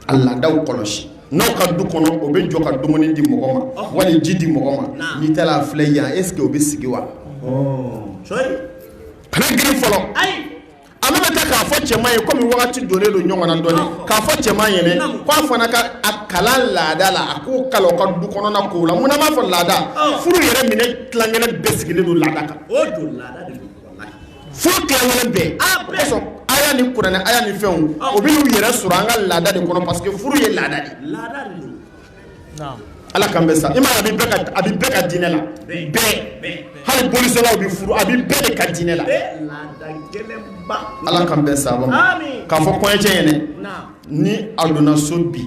a laadaw kɔlɔsi n'aw ka du kɔnɔ o bɛ jɔ ka dumuni di mɔgɔ ma wala ji di mɔgɔ ma n'i taara a filɛ yan est ce que o bɛ sigi wa kana girin fɔlɔ ayi A mana taa k'a fɔ cɛman ye kɔmi waati donnen don ɲɔgɔn na dɔɔnin k'a fɔ cɛman ye k'a fana ka a kalan laada la a k'u kalan a ka du kɔnɔna kow la munna n b'a fɔ laada furu yɛrɛ minɛ tila kelen bɛɛ sigilen don laada kan furu tila kelen bɛɛ aya ni kuranɛ aya ni fɛnw u b'u yɛrɛ sɔrɔ an ka laada de kɔnɔ parce que furu ye laada Ala k'an bɛn sababu ma a bɛ bɛɛ ka diinɛ la bɛɛ hali bolisɔnnaw bɛ furu a bɛ bɛɛ de ka diinɛ la Ala k'an bɛn sababu ma k'a fɔ kɔɲɔcɛ ɲɛna ni a donna so bi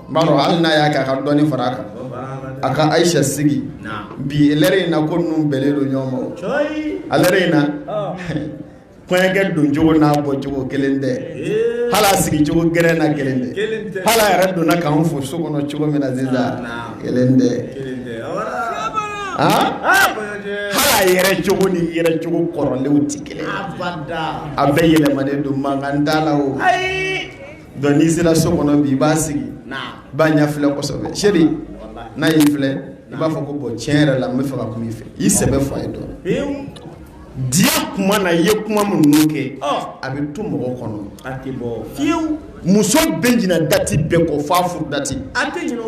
baro hali n'a y'a kɛ a ka dɔnni fara a kan a ka ayisa sigi bi lɛrɛ in na ko ninnu bɛnnen don ɲɔgɔn ma lɛrɛ in na kɔɲɔkɛ don cogo n'a bɔ cogo kelen tɛ hal'a sigi cogo gɛrɛ na kelen tɛ hal'a yɛrɛ donna k'an fo so kɔnɔ cogo min na sisan kelen tɛ hal'a yɛrɛ cogo ni yɛrɛ cogo kɔrɔlenw tɛ kelen a bɛɛ yɛlɛmalen don mankan t'a la o dɔn n'i sera so kɔnɔ bi i b'a sigi b'a ɲɛ filɛ kosɛbɛ Sedi n'a y'i filɛ i b'a fɔ ko bon tiɲɛ yɛrɛ la n bɛ fɛ ka kuma i fɛ i sɛbɛ fa ye dɔn Diya kuma na i ye kuma minnu kɛ a bɛ to mɔgɔ kɔnɔ a tɛ bɔ fiyewu muso bɛ ɲina dati bɛɛ kɔ f'a furu dati a tɛ kɔ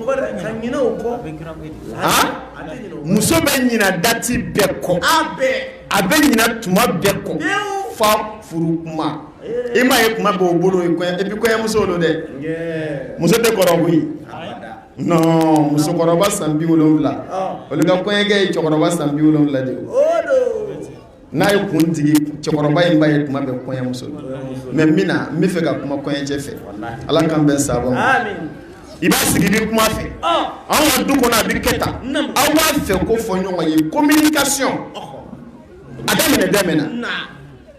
muso bɛ ɲina dati bɛɛ kɔ a bɛ ɲina tuma bɛɛ kɔ f'a furu kuma i m'a ye kuma b'o bolo i bɛ kɔɲɔmuso don dɛ muso tɛ kɔrɔ koyi non musokɔrɔba san 70 olu ka kɔɲɔkɛ ye cɛkɔrɔba san 70 de ye, o don, n'a y'a kun digi cɛkɔrɔba in b'a ye tuma bɛɛ kɔɲɔmuso mais min na n bɛ fɛ ka kuma kɔɲɔcɛ fɛ Ala k'an bɛn sababu ma, amin, i b'a sigi ni kuma fɛ, ɔn, anw ka du kɔnɔ a bɛ kɛ tan, naamu, aw b'a fɛ ko fɔ ɲɔgɔn ye communication a daminɛ daminɛ na, naamu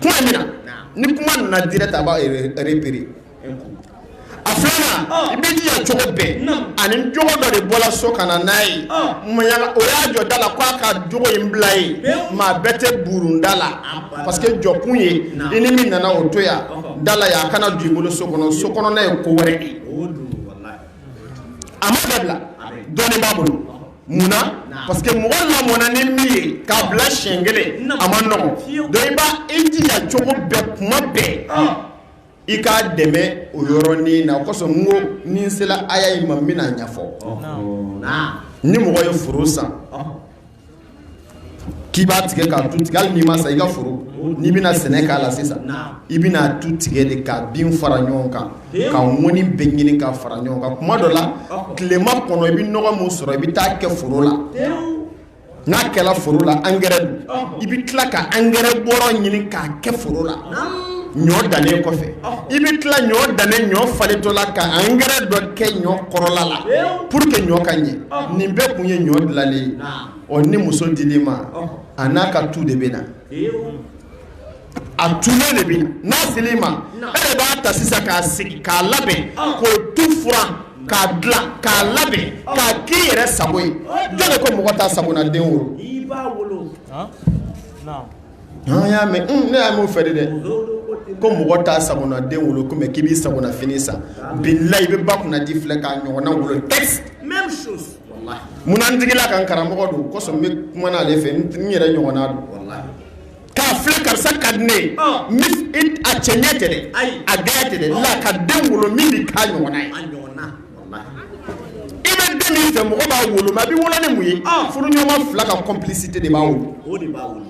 kuma min na ni kuma nana direct a b'a repere a filanan i bɛ jija cogo bɛɛ a ni jogo dɔ de bɔra so ka na n'a ye maɲaga o y'a jɔ da la k'a ka jogo in bila ye maa bɛɛ tɛ bulonda la parce que jɔkun ye i ni min nana o to yan da la yan a kana don i bolo so kɔnɔ so kɔnɔna ye ko wɛrɛ de ye a ma bɛɛ bila dɔɔnin b'a bolo mun na parce que mɔgɔ lamɔna ni min ye k'a bila siɲɛ kelen a man nɔgɔn donc i b'a i jija cogo bɛɛ kuma bɛɛ ah. i k'a dɛmɛ o yɔrɔnin na o kosɔn n ko ni n sela aya in ma n bɛna ɲɛfɔ ni mɔgɔ ye foro san k'i b'a tigɛ k'a tu tigɛ hali n'i m'a san i ka foro n'i bɛna sɛnɛ k'a la sisan i bɛna tu tigɛ de k'a bin fara ɲɔgɔn kan ka ŋɔni bɛɛ ɲini ka fara ɲɔgɔn kan kuma dɔ la tilema kɔnɔ i bɛ nɔgɔ min sɔrɔ i bɛ taa kɛ foro la n'a kɛra foro la angɛrɛ don i bɛ tila ka angɛrɛ bɔrɔ ɲini k'a kɛ foro la ɲɔ dannen kɔfɛ i bɛ tila ɲɔ dannen ɲɔ falentɔ la ka angɛrɛ dɔ kɛ ɲɔ kɔrɔla la pour que ɲɔ ka ɲɛ nin bɛɛ kun ye ɲɔ dilanlen ye ɔ ni muso dir'i ma a n'a ka tu de bɛ na a tulen de bɛ na n'a ser'i ma e b'a ta sisan k'a sigi k'a labɛn k'o tu furan k'a dilan k'a labɛn k'a k'i yɛrɛ sago ye jɔn ko mɔgɔ t'a sagona den wolo An y'a mɛ un ne y'a m'o fɛ de dɛ ozurubutidaa ko mɔgɔ t'a sagona den wolo comme k'i b'i sagona fini san ŋaa bilahi i be ba kunnandi filɛ k'a ɲɔgɔnna wolo texte même chose walahi munna n digil'a kan karamɔgɔ don kosɔn n be kuma n'ale fɛ n t n yɛrɛ ɲɔgɔnna don walahi k'a filɛ karisa ka di ne ye ɔɔ n be f it a cɛɲɛ tɛ dɛ ayi a gɛɛ tɛ dɛ la ka den wolo min bi k'a ɲɔgɔnna ye a ɲɔgɔnna i bɛ den min fɛ mɔgɔ b'a wolo mɛ a bɛ wolo ni mun ye ah. furuɲɔgɔnma fila ka complicité de b'a wolo o de b'a wolo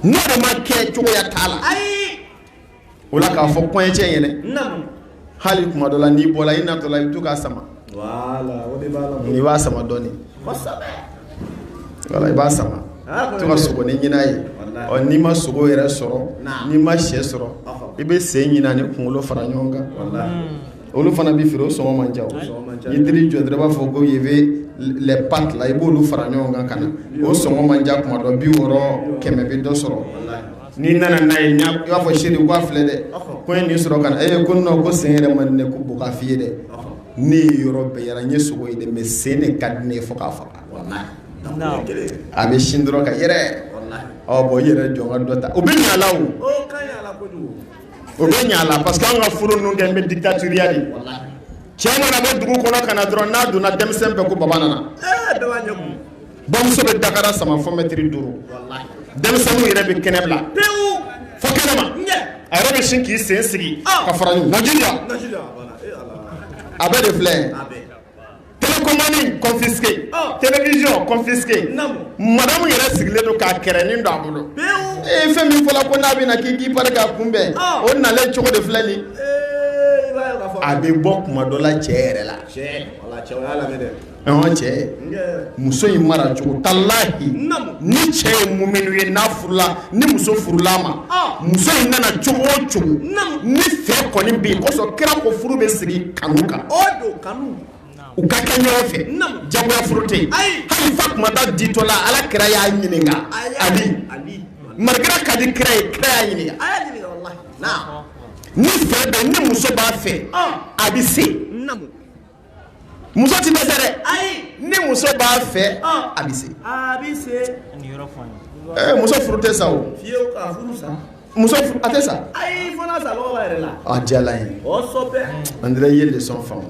n'o de ma kɛ cogoya t'a la ayi o la k'a fɔ kɔɲɔcɛ in yɛlɛ naamu hali kuma dɔ la n'i bɔra i natɔ la i bɛ to k'a sama voilà o de b'a la n'i b'a sama dɔɔni kosɛbɛ voilà i b'a sama ah, to ka sogonin ɲin'a ye ɔ n'i ma sogo yɛrɛ sɔrɔ n'i ma shɛ sɔrɔ i bɛ sen ɲin'a ni kunkolo fara ɲɔgɔn kan walahi olu fana bɛ feere sɔngɔ man ca n'i taar'i jɔ dɔrɔn b'a fɔ ko ye bɛ pa la i b'olu fara ɲɔgɔn kan ka na o sɔngɔ man ca kuma dɔ biwɔɔrɔ kɛmɛ bɛ dɔ sɔrɔ n'i nana n'a ye b'a fɔ chérie filɛ dɛ ko in nin sɔrɔ ka e ko n ko sen yɛrɛ man ko bɔ k'a fɔ'i ye dɛ ne ye yɔrɔ bɛɛ yaala n ye sogo ye dɛ mais sen de ka di ne ye fɔ k'a faga a bɛ sin dɔrɔn ka yɛrɛ bɔn i yɛrɛ jɔ ka dɔ ta o bɛ ɲalaw O bɛ ɲɛ a la parce que anw ka furu ninnu kɛlen bɛ dictatorial ye, walahi, cɛ mana bɔ dugu kɔnɔ ka na dɔrɔn n'a donna denmisɛn bɛɛ ko baba nana, ee bɛɛ b'a ɲɛ kumu, bamuso bɛ dakara sama fo mɛtiri duuru, walahi, denmisɛnninw yɛrɛ bɛ kɛnɛ bila pewu fo kɛnɛma, ɲɛ, a yɛrɛ bɛ sin k'i sen sigi ka fara ɲɔgɔn kan, Najeriya, Najeriya, voilà, ee Ala, a bɛɛ de filɛ Télécommande confisquée télévision confisquée madamu yɛrɛ sigilen don k'a kɛrɛn ni don a bolo e ye fɛn min fɔ la ko n'a bɛ na k'i k'i pari k'a kunbɛn o na cogo de filɛ nin a bɛ bɔ tuma dɔ la cɛ yɛrɛ la cɛ muso in mara cogo talahi ni cɛ ye mun minnu ye n'a furula ni muso furula ma muso in nana cogo o cogo ni fɛ kɔni bɛ yen kosɔn kira ko furu bɛ sigi kanu kan u ka kɛ ɲɔgɔn fɛ jagoya furu tɛ yen hali Fatumata ditɔ la Ala kira y'a ɲininka Ali maraka ka di kira ye kira y'a ɲininka ni fɛ bɛ ni muso b'a fɛ a bɛ se muso tɛ dɛsɛ dɛ ni muso b'a fɛ a bɛ se muso furu tɛ sa o muso a tɛ sa ayi fana sa yɛrɛ la a jala ye an ye de sɔn faamu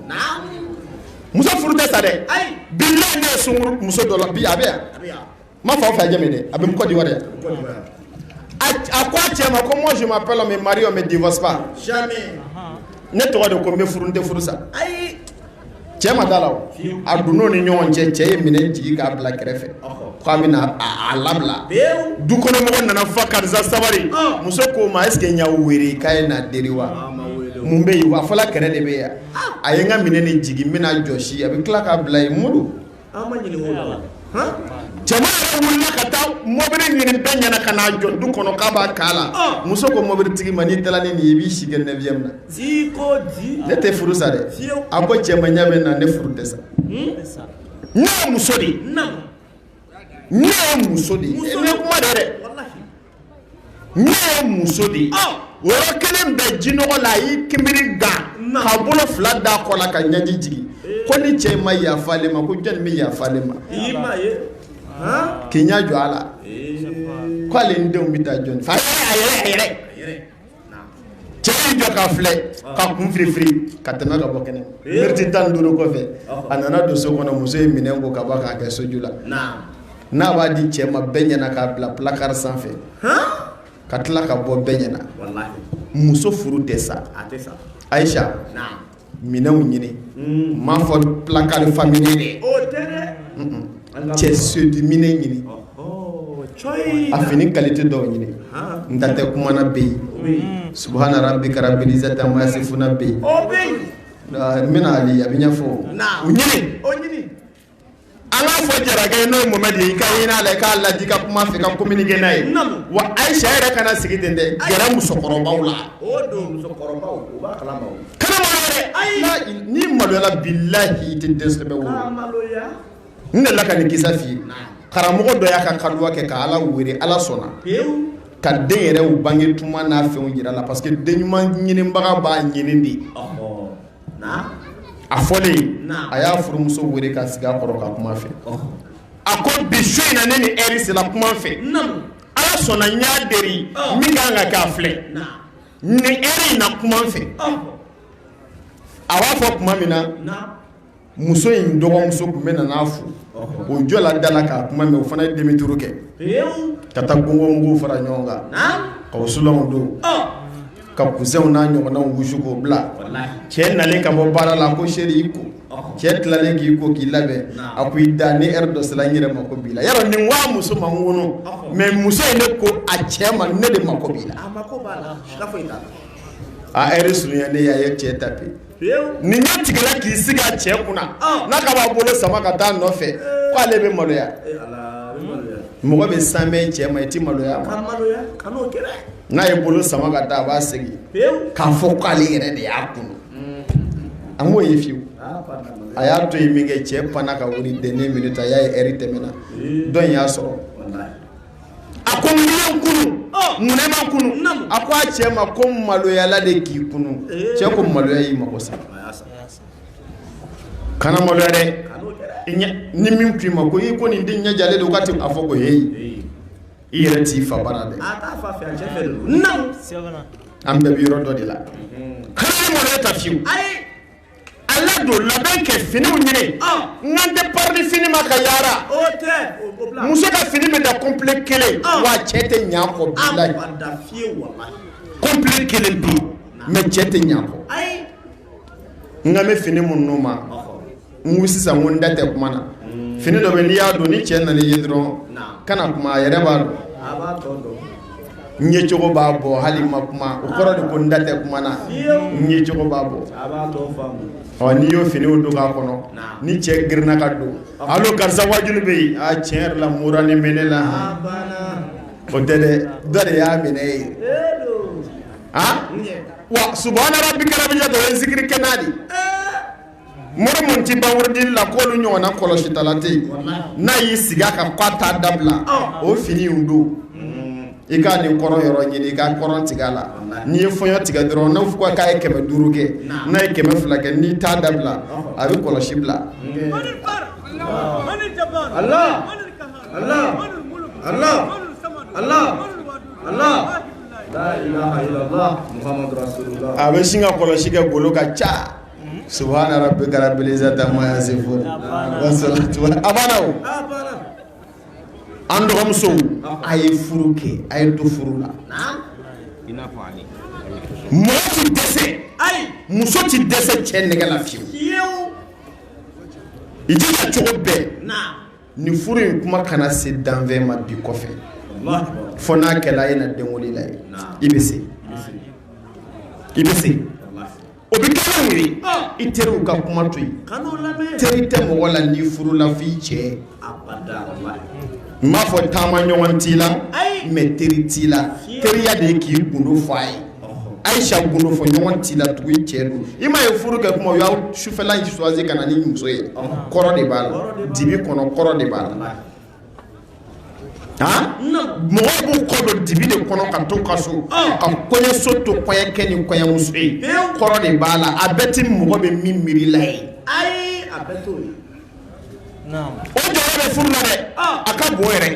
muso furu tɛ sa dɛ bi ne ye sungurun muso dɔ la bi a bɛ yan ma fa fɛ jɛmi dɛ a bɛ kɔ di wɛrɛ a ko a cɛ ma ko moi je m'appelle on me marie on me divorce pas jamais ne tɔgɔ de ko n bɛ furu n tɛ furu sa cɛ ma da a la o a dun n'o ni ɲɔgɔn cɛ cɛ ye minɛn jigin k'a bila kɛrɛfɛ ko a bɛna a labila dukɔnɔmɔgɔw nana fa karisa sabari muso k'o ma est ce que n y'aw wele k'a ye na deli wa mun bɛ yen wa a fɔla kɛlɛ de bɛ yan a ye n ka minɛn de jigin n bɛna a jɔsi a bɛ tila k'a bila yen Modi A ma ɲɛ cɛ wulila ka taa mɔbili ɲini bɛɛ ɲɛna ka n'a jɔ du kɔnɔ k'a b'a k'a la muso ko mɔbilitigi ma n'i taala ni nin ye i bɛ segin n'a ye yan ne tɛ furu sa dɛ a ko cɛ ma ɲɛ bɛ na ne furu tɛ sa ne ye muso de ye ne ye muso de ye kuma dɛ dɛ ne ye muso de ye o yɔrɔ kelen bɛɛ jinɔgɔ la a y'i kinbiri da k'a bolo fila da a kɔ la ka ɲɛji jigin ko ni cɛ in ma yafa ale ma ko jɔni bɛ yafa ale ma k'i ɲɛ jɔ a la k'ale ni denw bɛ taa jɔni fɛ a yɛrɛ a yɛrɛ Cɛ y'i jɔ k'a filɛ k'a kun firifiri ka tɛmɛ ka bɔ kɛnɛma miniti tan ni duuru kɔfɛ a nana don so kɔnɔ muso ye minɛn ko ka ban k'a kɛ soju la n'a b'a di cɛ ma bɛɛ ɲɛna k'a bila placard sanfɛ ka tila ka bɔ bɛɛ ɲɛna muso furu tɛ sa ayisa minɛnw ɲini n ma fɔ placard fa minɛn cɛ séduit minɛn ɲini a fini qualité dɔw ɲini n da tɛ kuma na bɛ yen subhana rabbika rabbil izzati amma yasifuna bɛ yen n bɛna a bɛɛ ɲɛfɔ o ɲini Ala fɔ jara ye n'o mɔ di i ka n'a la k'a laji ka kuma fɛ ka ko minikɛ n'a ye wa a ye sɛ yɛrɛ kana sigi ten dɛ gɛrɛ musokɔrɔbaw la ni maloya la bilahi i tɛ dɛsɛ ne la ka nin kisa ye karamɔgɔ dɔ y'a ka kaluwa kɛ ka ala wele ala sɔnna ka den yɛrɛ bange tuma na fɛn jira a la parce que den ɲuman ɲinibaga b'a ɲini de ye a fɔlen a ye a y'a furumuso weele k'a sigi a kɔrɔ ka kuma a fɛ a ko bi su in na ni ɛri sera kuma n fɛ ala sɔnna n ye delili min kɛ a ka kɛ a filɛ ni ɛri i na kuma n fɛ a b'a fɔ tuma min na muso in dɔgɔmuso tun bɛ nana a fo o jɔla da la ka kuma mɛn o fana ye demi-tour kɛ ka taa gongo mugu fara ɲɔgɔn kan ka wusulan don ka kusɛnw n'a ɲɔgɔnnaw wusu k'o bila cɛ nalen ka bɔ baara la a ko chéri i ko cɛ tilalen k'i ko k'i labɛn a ko i da ni ɛri dɔ sera n yɛrɛ mago b'i la yɔrɔ nin waa muso ma ŋunu mais muso in ne ko a cɛ ma ne de mago b'i la a ɛri surunyalen a ye cɛ ta ten nin ɲɛ tigɛ k'i sigi a cɛ kunna n'a k'a b'a bolo sama ka taa nɔfɛ k' ale bɛ maloya mɔgɔ bɛ saamɛ i cɛ ma i tɛ maloya n'a y'a bolo sama ka taa a b'a segin k'a fɔ k'ale yɛrɛ de y'a kunun an k'o ye fiyewu a y'a to yen min kɛ cɛ panna ka wuli dernière minute a y'a ye ɛri tɛmɛna dɔɔnin y'a sɔrɔ a ko mun y'an kunun munna e ma n kunun a ko a cɛ ma ko n maloyala de k'i kunun cɛ ko maloya y'i mago sa kana maloya dɛ ni min k'i ma ko i ko nin den ɲɛjalen don k'a tɛ a fɔ ko heyi I yɛrɛ t'i fa bara dɛ a t'a fa fɛ a cɛ fɛ de don n'aw sɛbɛnna an bɛɛ bɛ yɔrɔ dɔ de la hali mɔnɛ ta fiyewu ayi a ladon labɛn kɛ finiw ɲini ɔ nka n tɛ parili fini ma ka yaara o tɛ o o bila muso ka fini bɛ dan kɔnpile kelen Ah. wa cɛ tɛ ɲɛ a kɔ a bilayi ma da fiye wala kɔnpile kelen bi mais cɛ tɛ ɲɛ a kɔ ayi nka n bɛ fini minnu ma ɔhɔ n sisan ko n da tɛ kuma na fini dɔ n'i y'a don ni cɛ nan'i ye dɔrɔn kana kuma a yɛrɛ b'a dɔn n ye cogo b'a bɔ hali ma kuma o kɔrɔ de ko n da tɛ kuma na n ye cogo b'a bɔ ɔ n'i y'o fini don k'a kɔnɔ ni cɛ girinna ka don hali karisa wajuli bɛ yen a tiɲɛ yɛrɛ la mura ni mɛn ne la o tɛ dɛ dɔ de y'a minɛ ye a wa subhana rabbika rabbi ɲɛ dɔ ye n zikiri kɛ n'a de Mori min tɛ ban wurudi la k'olu ɲɔgɔn na kɔlɔsitala tɛ yen, walahi, n'a y'i sigi a kan k'a t'a dabila, ɔn, o fini y'u don, unhun, i ka nin kɔrɔn yɔrɔ ɲini i ka kɔrɔn tigɛ a la, walahi, n'i ye fɔɲɔ tigɛ dɔrɔn n'u ko k'a ye kɛmɛ duuru kɛ, naamu, n'a ye kɛmɛ fila kɛ n'i t'a dabila, ɔhɔ, a bɛ kɔlɔsi bila, unhun, Ala, Ala, Ala, Ala, Ala, laa ilaaha ila laahu, Mohamadu rasulula, a bɛ sin ka kɔlɔsi kɛ golo ka ca subhana rabbika rabbil izzati fo a banna an dɔgɔmuso a ye furu kɛ a ye to furu la mɔgɔ tɛ dɛsɛ muso tɛ dɛsɛ cɛ nɛgɛ la fiyewu i jija cogo bɛɛ nin furu in kuma kana se danfɛn ma bi kɔfɛ fo n'a kɛra a ye na denwli la ye i bɛ se i bɛ se O bɛ i teriw ka kuma to yen teri tɛ mɔgɔ la n'i furula f'i cɛ n m'a fɔ taama ɲɔgɔn t'i la mais teri t'i la teriya de k'i gundo fɔ a ye ayisa gundo fɔ ɲɔgɔn t'i la tugun i cɛ don i m'a ye furu kɛ kuma sufɛla choisi ka na ni muso ye kɔrɔ de b'a la dibi kɔnɔ kɔrɔ de b'a la mɔgɔw b'u kɔ don dibi de kɔnɔ ka to ka so ka kɔɲɔso to kɔɲɔkɛ ni kɔɲɔmuso ye kɔrɔ de b'a la a bɛɛ tɛ mɔgɔ bɛ min miiri la ye o jɔyɔrɔ bɛ furu la dɛ a ka bon yɛrɛ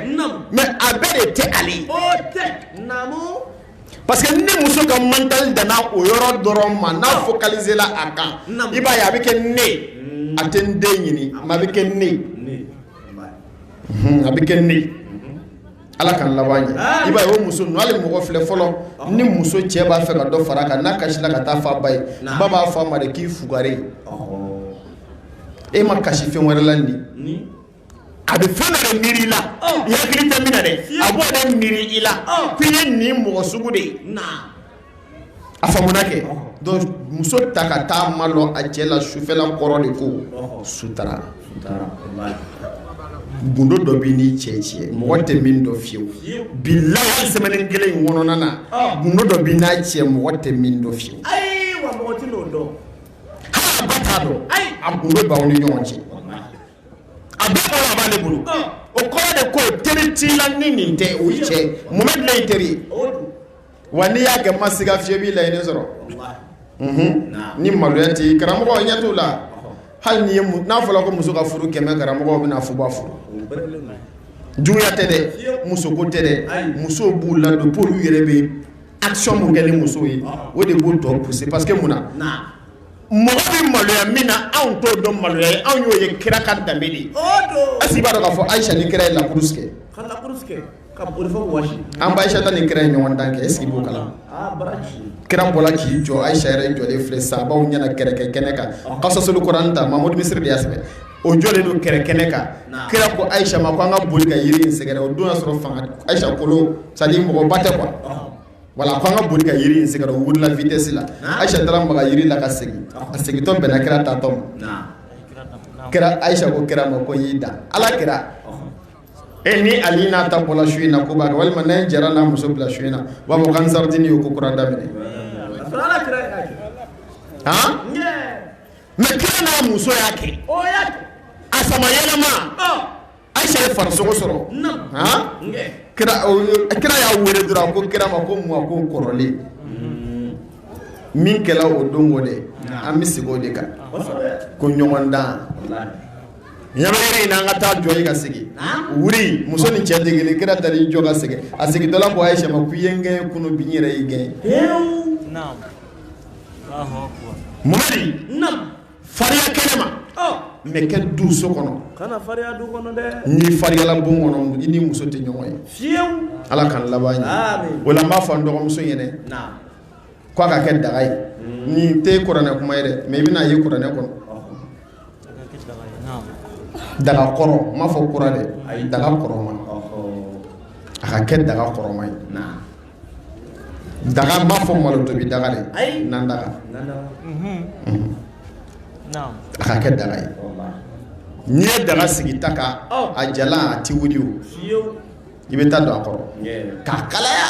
mais a bɛɛ de tɛ ale ye parce que ni muso ka mental danna o yɔrɔ dɔrɔn ma n'a focalisé la a kan i b'a ye a bɛ kɛ ne a tɛ n den ɲini a bɛ kɛ ne a bɛ kɛ ne ala ka laban i ba o muso mɔgɔ filɛ fɔlɔ ni muso cɛ b'a fɛ ka dɔ fara a kan n'a kasira ka t'a f'a ba ye ba b'a fɔ a ma k'i fugari ye e ma kasi fɛn wɛrɛ la nin a bɛ fɛn dɔ miiri i la i hakili tɛ min na dɛ a b'o de miiri i la k'i ye nin mɔgɔ sugu de ye a faamuna kɛ muso ta ka taa madon a cɛ la sufɛla kɔrɔ de ko sutura gundo dɔ b'i ni cɛ cɛ mɔgɔ tɛ min dɔn fiyewu bilahi semaine kelen in kɔnɔna na gundo dɔ b'i n'a cɛ mɔgɔ tɛ min dɔn fiyewu a gundo b'aw ni ɲɔgɔn cɛ a bɛ a b'ale bolo o kɔrɔ de ko teri t'i la ni nin tɛ o cɛ mun teri Wa n'i y'a kɛ ma siga fiyewu i b'i laɲini sɔrɔ, walahi, unhun, naamu, ni maloya tɛ yen, karamɔgɔ i ɲɛ t'o la, ɔhɔ, hali n'i ye n'a fɔra ko muso ka furu 100 karamɔgɔ o bɛna fuba furu, o perepeleli man ɲi, juguya tɛ dɛ, fiyewu, muso ko tɛ dɛ, ayi, musow b'u ladon pour que olu yɛrɛ bɛ action min kɛ ni muso ye, ɔhɔ, o de b'u tɔ pousser parce que mun na, naamu, mɔgɔ bɛ maloya min na anw t'o dɔn maloya ye, anw y'o ye kira ka danbe de ye, o don, est ce que i b'a dɔn k'a fɔ Ayisa ni kira ye la course kɛ, ka la course kɛ ka boli fo wɔsi. an ba ayisata ni kira ye ɲɔgɔndan kɛ est ce que i b'o kalama. aa baraji. kira bɔra k'i jɔ ayisa yɛrɛ jɔlen filɛ sahabaw ɲɛna kɛlɛkɛ kɛnɛ kan kasasolu kuran ta mamadu misiri de y'a sɛbɛn o jɔlen don kɛlɛ kɛnɛ kan kira ko ayisa ma ko an ka boli ka yiri in sɛgɛrɛ o don y'a sɔrɔ fanga ayisa kolo sadi mɔgɔba tɛ kuwa. wala ko an ka boli ka yiri in sɛgɛrɛ o wulila vitɛsi la ayisa taara maga yiri la ka segin a segintɔ bɛnna kira taatɔ ma kira ayisa ko kira ma ko n y'i dan ala kira. E ni ali n'a ta bɔla su in na k'u b'a kɛ walima ne jara n'a muso bɔla su in na u b'a fɔ ko ansaridini ye ko kura daminɛ mɛ kira n'a muso y'a kɛ a san ma yɛlɛma ayisa ye farisogo sɔrɔ kira y'a wele dɔrɔn ko kira ma ko mɔ ko kɔrɔlen min kɛra o don o de an bɛ sigi o de kan ko ɲɔgɔndan Ɲ in an ka taa jɔ ka segin wuli muso ni cɛ degeli kira taara jɔ ka segin a segin dala ko a ye sɛ ko ye kɛ kun bi yɛrɛ i gɛn fariya kɛnɛ ma mɛ kɛ du so kɔnɔ ni farila bon kɔnɔ i ni muso tɛ ɲɔgɔn ye ala ka laban ye o b'a fɔ dɔgɔmuso ɲɛna k'a ka kɛ daga ye ni tɛ kuranɛ kuma ye dɛ mɛ i bɛna a ye kuranɛ kɔnɔ daga kɔrɔ n m'a fɔ kura dɛ ayi daga kɔrɔman a ka kɛ daga kɔrɔman ye daga n m'a fɔ malo tobi daga dɛ ayi na daga a ka kɛ daga ye n'i ye daga sigi ta kan a jalan a tɛ wuli o i bɛ ta don a kɔrɔ k'a kalaya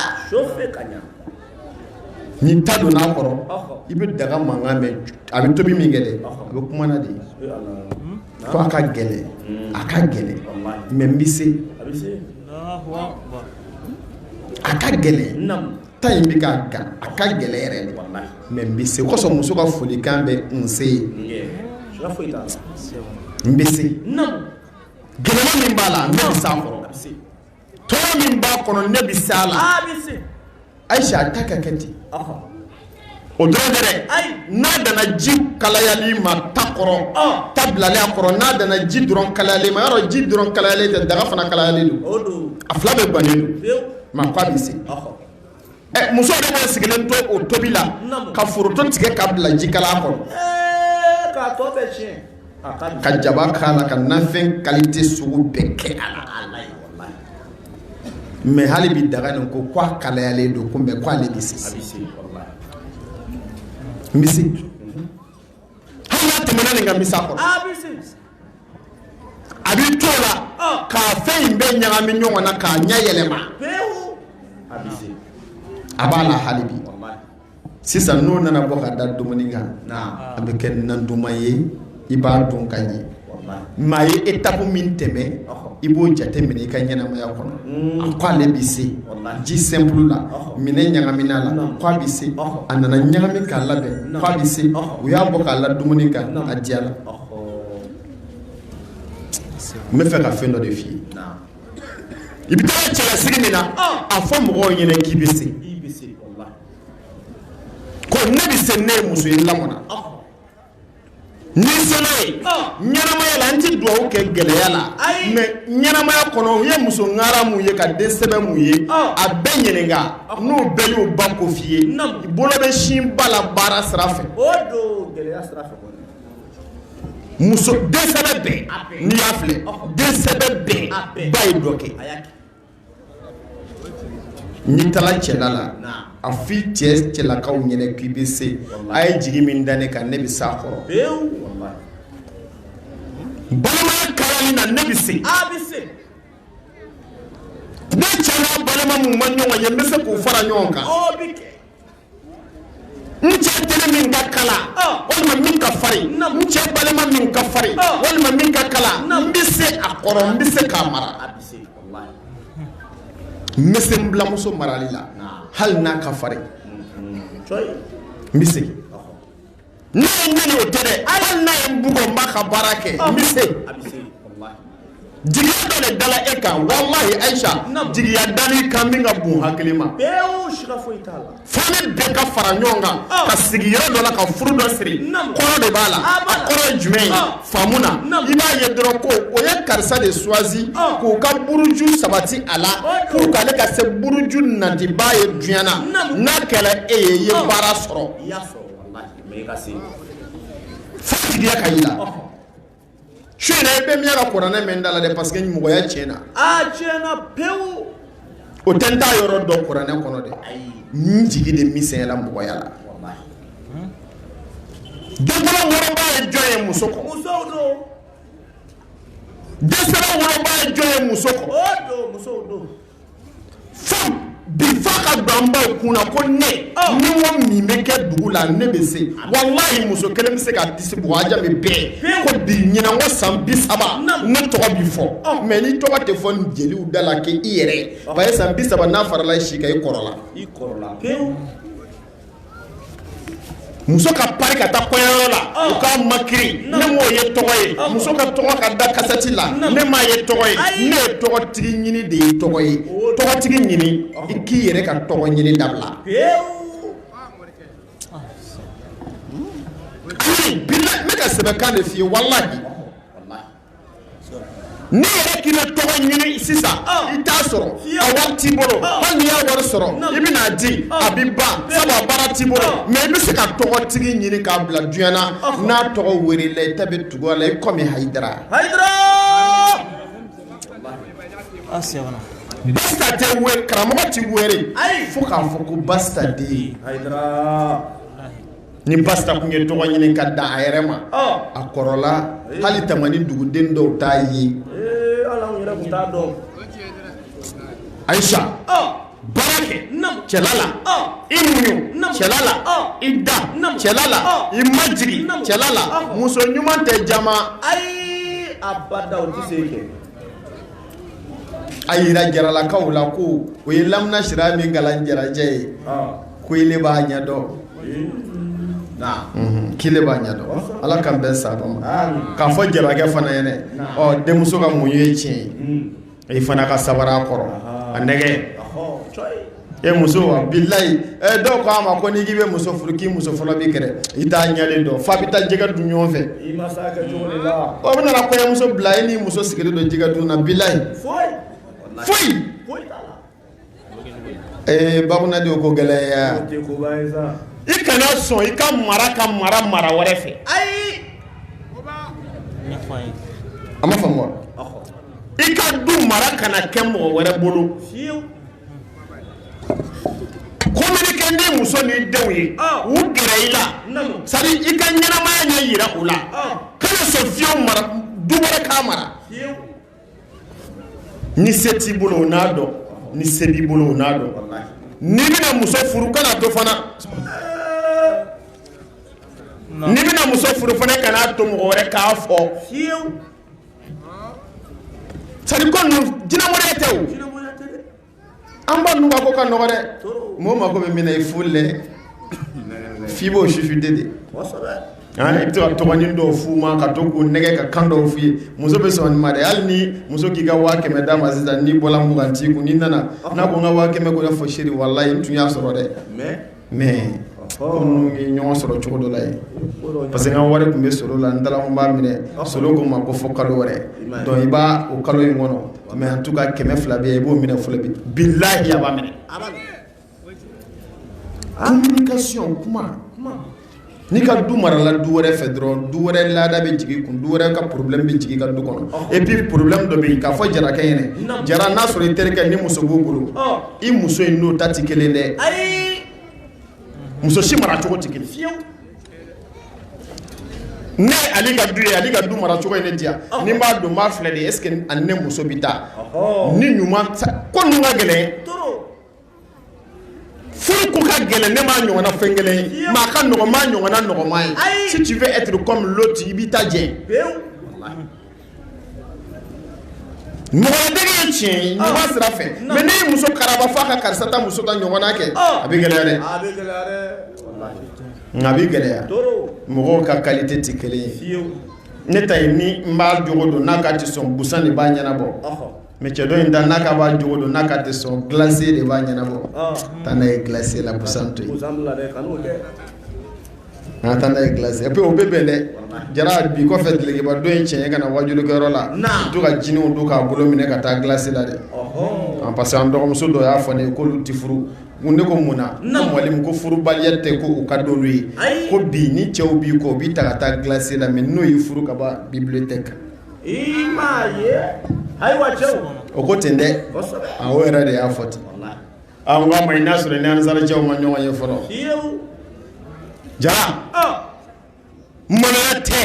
ni ta donna a kɔrɔ i bɛ daga mankan mɛn a bɛ tobi min kɛ dɛ a bɛ kuma nin de fɔ a ka gɛlɛn a ka gɛlɛn mɛ n bɛ se a ka gɛlɛn ta in bɛ ka gan a ka gɛlɛn yɛrɛ de mɛ n bɛ se o kosɔn muso ka folikan bɛ nse ye n bɛ se Gɛlɛya min b'a la ne bɛ se a kɔrɔ tɔɔrɔ min b'a kɔnɔ ne bɛ se a la ayi a ta ka kɛ ten o dɔrɔn tɛ dɛ n'a nana ji kalayali ma ta kɔrɔ ta bilalen a kɔrɔ n'a nana ji dɔrɔn kalayali ma yɔrɔ ji dɔrɔn kalayalen tɛ daga fana kalayalen don a fila bɛɛ gannen don mɛ a ko a bɛ se Muso bɛ sigilen to o tobi la ka foronto tigɛ k'a bila ji kalan kɔnɔ ka jaba k'a la ka nafɛn kalite sugu bɛɛ kɛ a la mɛ hali bi daga nin ko k'a kalayalen don ko mɛ k' ale bɛ se n bɛ se hali n'a tɛmɛna nin kan n bɛ se a kɔrɔ ah, a bɛ to a la ah. ka fɛn in bɛɛ ɲagami ɲɔgɔn na k'a ɲɛ yɛlɛma a b'a la hali bi sisan n'o nana bɔ ka da dumuni kan a bɛ kɛ nan duman ye i b'a dun ka ɲɛ maa ye etapu min tɛmɛ i b'o jate minɛ i ka ɲɛnamaya kɔnɔ a k' ale bɛ se ji sɛnpulu la mɛ n'a ɲagamina la k' a bɛ se a nana ɲagami k'a labɛn k' a bɛ se u y'a bɔ k'a la dumuni kan a diyala n bɛ fɛ ka fɛn dɔ de f'i ye i bɛ taa cɛlasigi min na a fɔ mɔgɔw ɲɛna k'i bɛ se ko ne bɛ se ne ye muso ye n lamɔna Ni sera ɲɛnamaya la n tɛ dugawu kɛ gɛlɛya la mɛ ɲɛnamaya kɔnɔ u ye muso ŋara min ye ka den sɛbɛ min ye a bɛɛ ɲininka n'u bɛɛ y'u ba ko f'i ye bolo bɛ sin ba la baara sira fɛ muso den sɛbɛ bɛɛ n'i y'a filɛ den sɛbɛ bɛɛ ba ye dɔ kɛ N'i taara cɛla la a fɔ i cɛlakaw ɲɛna k'i bɛ se a ye jigi min da ne kan ne bɛ se a kɔrɔ balimaya kalali la ne bɛ se ne cɛ n'a balima min ma ɲɔgɔn ye n bɛ se k'u fara ɲɔgɔn kan n cɛ teri min ka kalan walima min ka fari n cɛ balima min ka fari walima min ka kalan n bɛ se a kɔrɔ n bɛ se k'a mara n bɛ se n biranmuso marali la hali n'a ka fari n bɛ se kɛ ne ye min ye o tɛ dɛ hali n'a ye n bugɔ n b'a ka baara kɛ n bɛ se jigiya dɔ de dala e kan walahi ayisa jigiya dala i kan min ka bon hakili ma fo ne bɛɛ ka fara ɲɔgɔn kan ka sigi yɔrɔ dɔ la ka furu dɔ siri kɔrɔ de b'a la a kɔrɔ ye jumɛn ye faamu na i b'a ye dɔrɔn ko o ye karisa de suwazi k'u ka buruju sabati a la pour que ale ka se buruju natiba ye duɲa na n'a kɛra e ye i ye baara sɔrɔ Fatigiya ka i la su in na i bɛ miɲɛ ka kuranɛ mɛn n da la dɛ parce que mɔgɔya tiɲɛna a tiɲɛna pewu o tɛ n t'a yɔrɔ dɔn kuranɛ kɔnɔ dɛ n jigi de misɛnyala mɔgɔya la densɔrɔ woloba ye jɔn ye muso kɔ musow don densɔrɔ woloba ye jɔn ye muso kɔ o don musow don Fo bi fo a ka don an baw kun na ko ne ni n ko min bɛ kɛ dugu la ne bɛ se walahi muso kelen bɛ se ka disi bugɔ a jaabi bɛɛ ko bi ɲinan kɔ san bi saba ne tɔgɔ bi fɔ mɛ ne tɔgɔ tɛ fɔ nin jeliw da la kɛ i yɛrɛ b'a ye san bi saba n'a farala i si kan i kɔrɔla Muso ka pari ka taa ko yɔrɔ la o ka makiye ne m'o ye tɔgɔ ye muso ka tɔgɔ ka da kasɛti la ne m'a ye tɔgɔ ye ne ye tɔgɔtigi ɲini de ye tɔgɔ ye tɔgɔtigi ɲini i k'i yɛrɛ ka tɔgɔ ɲini dabila ne ka sɛbɛnkan de ye N'i yɛrɛ k'i tɔgɔ ɲini sisan ah. i t'a sɔrɔ a wari t'i bolo ah. hali n'i y'a wari sɔrɔ i bɛna a di ah. a bɛ ban sabu a baara t'i bolo mɛ i bɛ se ka tɔgɔtigi ɲini k'a bila duɲa na n'a tɔgɔ welela i ta bɛ tugu a la i komi hayidara basitan den karamɔgɔ tɛ wele fo k'a fɔ ko basitan den hayidara ni basitan tun ye tɔgɔ ɲini ka da a yɛrɛ ma a kɔrɔla hali tamani duguden dɔw t'a ye ayisa baara kɛ cɛla la i muɲu cɛla la i da cɛla la i majigin cɛla la muso ɲuman tɛ jama ayi abada o tɛ se kɛ a jira jaralakaw la ko o ye lamina sira min kalan jarajɛ ye ko b'a ɲɛdɔn k'e b'a ɲɛdɔn ala ka bɛn sa ma k'a fɔ jarakɛ fana ye ɔ denmuso ka muɲu ye tiɲɛ ye e fana ka sabara kɔrɔ a nɛgɛ e muso wa bilayi ɛ dɔw ko a ma ko n'i k'i bɛ muso furu k'i muso fɔlɔ b'i kɛlɛ i t'a ɲɛ de dɔn f'a bɛ taa jɛgɛ dun ɲɔgɔn fɛ i ma s'a kɛ cogo de la o bɛ nana kɔɲɔmuso bila e n'i muso sigilen don jɛgɛ dun na bilayi foyi foyi foyi t'a la ee bakunandi o ko gɛlɛn ye o tɛ koba ye sa i kana sɔn i ka mara ka mara mara wɛrɛ fɛ ayi a m'a faamu wa i ka du mara kana kɛ mɔgɔ wɛrɛ bolo fiyewu communiquer n'i muso n'i denw ye u gɛrɛ i la sani i ka ɲɛnamaya ɲɛ jira u la kana sɔn fiyewu maa du wɛrɛ k'a mara ni se t'i bolo o n'a dɔn ni se b'i bolo o n'a dɔn n'i bɛna muso furu kan'a to fana n'i bɛna muso furu fana kan'a to mɔgɔ wɛrɛ k'a fɔ Sadi ko jinɛinɛ tɛ an ba dun ko ka nɔgɔ dɛ mɔgɔ mako bɛ min na i furu dɛ f b'o sifin de de i taara tɔgɔnin dɔw f'u ma ka to k'u nɛgɛn ka kan dɔw f'u ye muso bɛ sɔn i ma de hali ni muso k'i ka waa kɛmɛ d'a ma sisan ni bɔra mugan' kun nana n'a ko n ka waa kɛmɛ ko n'a fɔ chérie walahi n tun y'a sɔrɔ dɛ mais ko ninnu ye ɲɔgɔn sɔrɔ cogo dɔ la yen parce que n ka wari tun bɛ solo la n taara n b'a minɛ solo ko n ma ko fo kalo wɛrɛ donc i b'a o kalo in kɔnɔ mais en tout cas kɛmɛ fila bɛ yen i b'o minɛ fɔlɔ bi bilahi a b'a minɛ communication kuma N'i ka du marala du wɛrɛ fɛ dɔrɔn du wɛrɛ laada bɛ jigin i kun du wɛrɛ ka problème bɛ jigin i ka du kɔnɔ et puis problème dɔ bɛ yen k'a fɔ jarakɛ in jara n'a sɔrɔ i terikɛ ni muso' bolo i muso in n'o ta tɛ kelen dɛ muso si mara cogo tɛ kelen ne ale ka du ye ale ka du mara cogo ye ne diya n'i b'a dɔn i b'a filɛ dɛ est-ce que ne muso bɛ taa ni ɲuman ko ka gɛlɛn furu ko ka gɛlɛn ne m'a ɲɔgɔnna fɛn kelen ye mais a ka nɔgɔ n m'a ɲɔgɔnna nɔgɔman ye Ayi. si tu veux être comme l'autre i b'i ta jɛ pewu ɲɔgɔndege ye tiɲɛ ye ɲɔgɔn sira fɛ Non. mais n'e ye muso karaba f'a ka karisa ta muso ta ɲɔgɔnna kɛ Oh. a bɛ gɛlɛya dɛ a bɛ gɛlɛya dɛ walahi nka a bɛ gɛlɛya trop mɔgɔw ka qualité tɛ kelen ye fiyewu ne ta in n b'a jogo dɔn n'a k'a tɛ sɔn busan de b'a ɲɛnabɔ ɔhɔ Mais cɛ dɔ in ta n'a k'a b'a jogo dɔn n'a k'a tɛ sɔn glacier de b'a ɲɛnabɔ taa n'a ye glacier la busan to yen taa n'a ye glacier puis o bɛ bɛn dɛ jara bi kɔfɛ dulɔkiba don i cɛn ka na wajulikɛyɔrɔ la to ka jiniw don k'a bolo minɛ ka taa glacier la dɛ an parce que an dɔgɔmuso dɔ y'a fɔ n ye k'olu tɛ furu mun ne ko mun na wali ko furubaliya tɛ ko u ka don ye ko bi ni cɛw b'i kɔ u b'i ta ka taa glacier la mais n'u y'i furu ka ban bibliothèque i m'a ye ayiwa cɛw o ko ten dɛ a o yɛrɛ de y'a fɔ ten a ko ma i n'a sɔrɔ ni ansarajɛw ma ɲɔgɔn ye fɔlɔ jaa maloya tɛ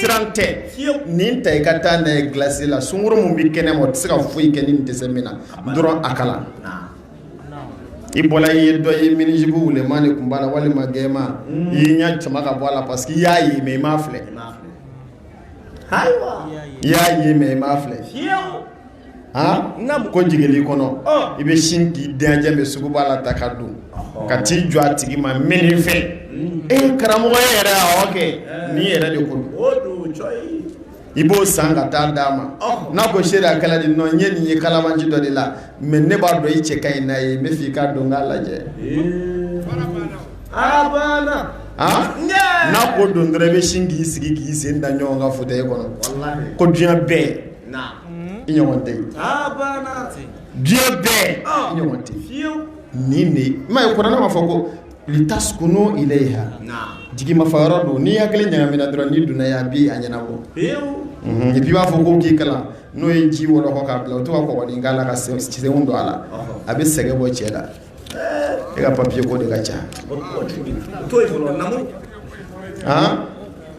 siran tɛ nin ta i ka taa n'a ye glasi la sungurun min bɛ kɛnɛ ma o tɛ se ka foyi kɛ n'i dɛsɛ min na dɔrɔn a kalan i bɔra i ye dɔ ye minijupu wulenman de tun b'a la walima gɛman i y'i ɲɛ sama ka bɔ a la parce que i y'a ye mais i m'a filɛ y'a ye mais i m'a filɛ n ko jigin kɔnɔ i bɛ sin k'i djɛ bɛ suguba la taa ka don ka t'i jɔ a tigi ma min fɛ e karamɔgɔ yɛrɛ kɛ ni yɛrɛ de kun i b'o san ka taa d'a ma n'a ko se a kala di nɔ ɲɛ nin ye kalabanci dɔ de la mais ne b'a dɔn i cɛ ka ɲi n'a ye n b'a fɛ i k'a don k'a lajɛ n'a ko don dɔrɔn i bɛ sin k'i sigi k'i sen da ɲɔgɔn k'a fɔ e kɔnɔ ko diɲɛ bɛɛ i ɲɔgɔn tɛ diɲɛ bɛɛ i ɲɔgɔn tɛ nin de ma ye kuranɛ b'a fɔ ko litaskunu ilayha jigi mafa yɔrɔ don n'i hakili ɲagamina dɔrɔn n'i donna a bɛ a ɲɛnabɔ et puis i b'a fɔ ko k'i kalan n'o ye ji wɔlɔkɔ k'a bila o tɔgɔ kɔgɔ dɔɔnin k'a la k'a sen don a la a bɛ sɛgɛn bɔ cɛ la e ka papiye ko de ka ca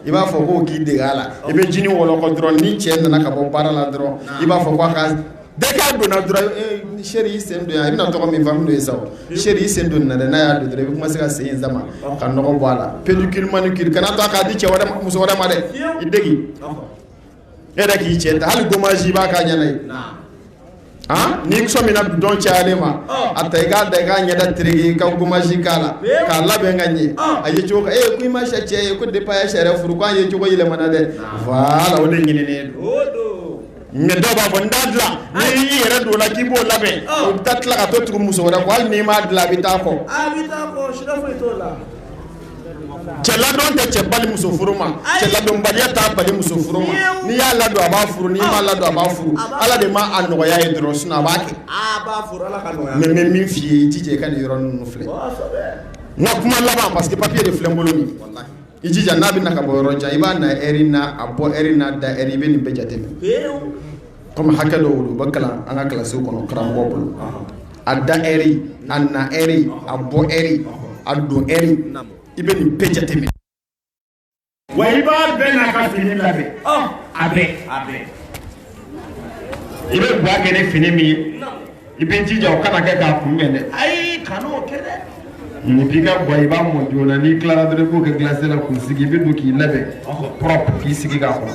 i b'a fɔ ko k'i dege a la i bɛ jinin wɔlɔkɔ dɔrɔn ni cɛ nana ka bɔ baara la dɔrɔn i b'a fɔ ko a ka dès qu'a donna dɔrɔn eh, chéri i sen don yan i bɛna tɔgɔ min faamu n'o ye sa chéri i sen don na dɛ n'a y'a don dɔrɔn i bɛ commencer ka sen in sama ka nɔgɔ bɔ a la pédicure manicure kana to a k'a di cɛ wɛrɛ muso wɛrɛ ma dɛ i degi e yɛrɛ k'i cɛ ta hali gommage i b'a k'a ɲɛ na yen n'i sɔ min dɔn cayalen ma a ta i k'a da i k'a ɲɛda tereke ka gommage k'a la k'a labɛn ka ɲɛ a ye cogo e ko i ma sɛ cɛ ye ko depuis sariya furu k'a ye cogo yɛlɛmana dɛ voilà o de ɲinin mais dɔw b'a fɔ n t'a dilan y'i yɛrɛ don la k'i b'o labɛn o bɛ taa tila ka tugu muso wɛrɛ kɔ hali n'i m'a dilan a bɛ taa kɔ cɛ ladon tɛ cɛ bali muso furu ma cɛ ladonbaliya t'a bali muso furu ma n'i y'a ladon a b'a furu n'i m'a ladon a b'a furu Ala de ma a nɔgɔya ye dɔrɔn sinon a b'a kɛ mais n bɛ min f'i ye i jija i ka nin yɔrɔnin ninnu filɛ n ka kuma laban parce que papier de filɛ n bolo nin i jija n'a bɛ na ka bɔ yɔrɔ jan i b'a na heure n'a bɔ heure n'a da heure i bɛ nin bɛɛ jateminɛ. comme hakɛ dɔw u bɛ kalan an ka kilasiw kɔnɔ karamɔgɔ bolo a da heure a na heure a bɔ heure a don heure i bɛ nin bɛɛ jateminɛ wa i b'a bɛɛ n'a ka fini labɛn a bɛɛ a bɛɛ i bɛ baara kɛ ni fini min ye i b'i jija o kana kɛ k'a kunbɛn dɛ ayi kana o kɛ dɛ n'i b'i ka ga i b'a mɔ joona n'i tilara dɔrɔn i b'o kɛ glacière la k'o sigi i bɛ don k'i labɛn propre k'i sigi k'a kɔnɔ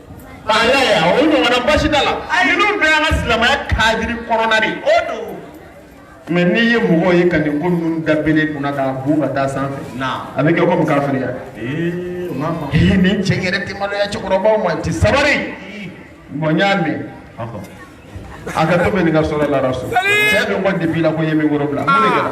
K'a y'a ye wa, o ɲɔgɔnna basi t'a la, ninnu bɛɛ y'an ka silamɛya kadiri kɔnɔna de ye, o don. Mais n'i ye mɔgɔw ye ka nin ko ninnu da bere kunna k'a bon ka taa sanfɛ, naam, a bɛ kɛ comme kafiriya, ee, o ma faamu, ee nin cɛ in yɛrɛ tɛ maloya cɛkɔrɔbaw ma, a tɛ sabali, bon n y'a mɛn, ɔhɔ, a ka to bɛ nin ka sɔrɔ la rasul, cɛ dɔ ko depuis la ko n ye min kɔrɔ bila, mun de kɛra?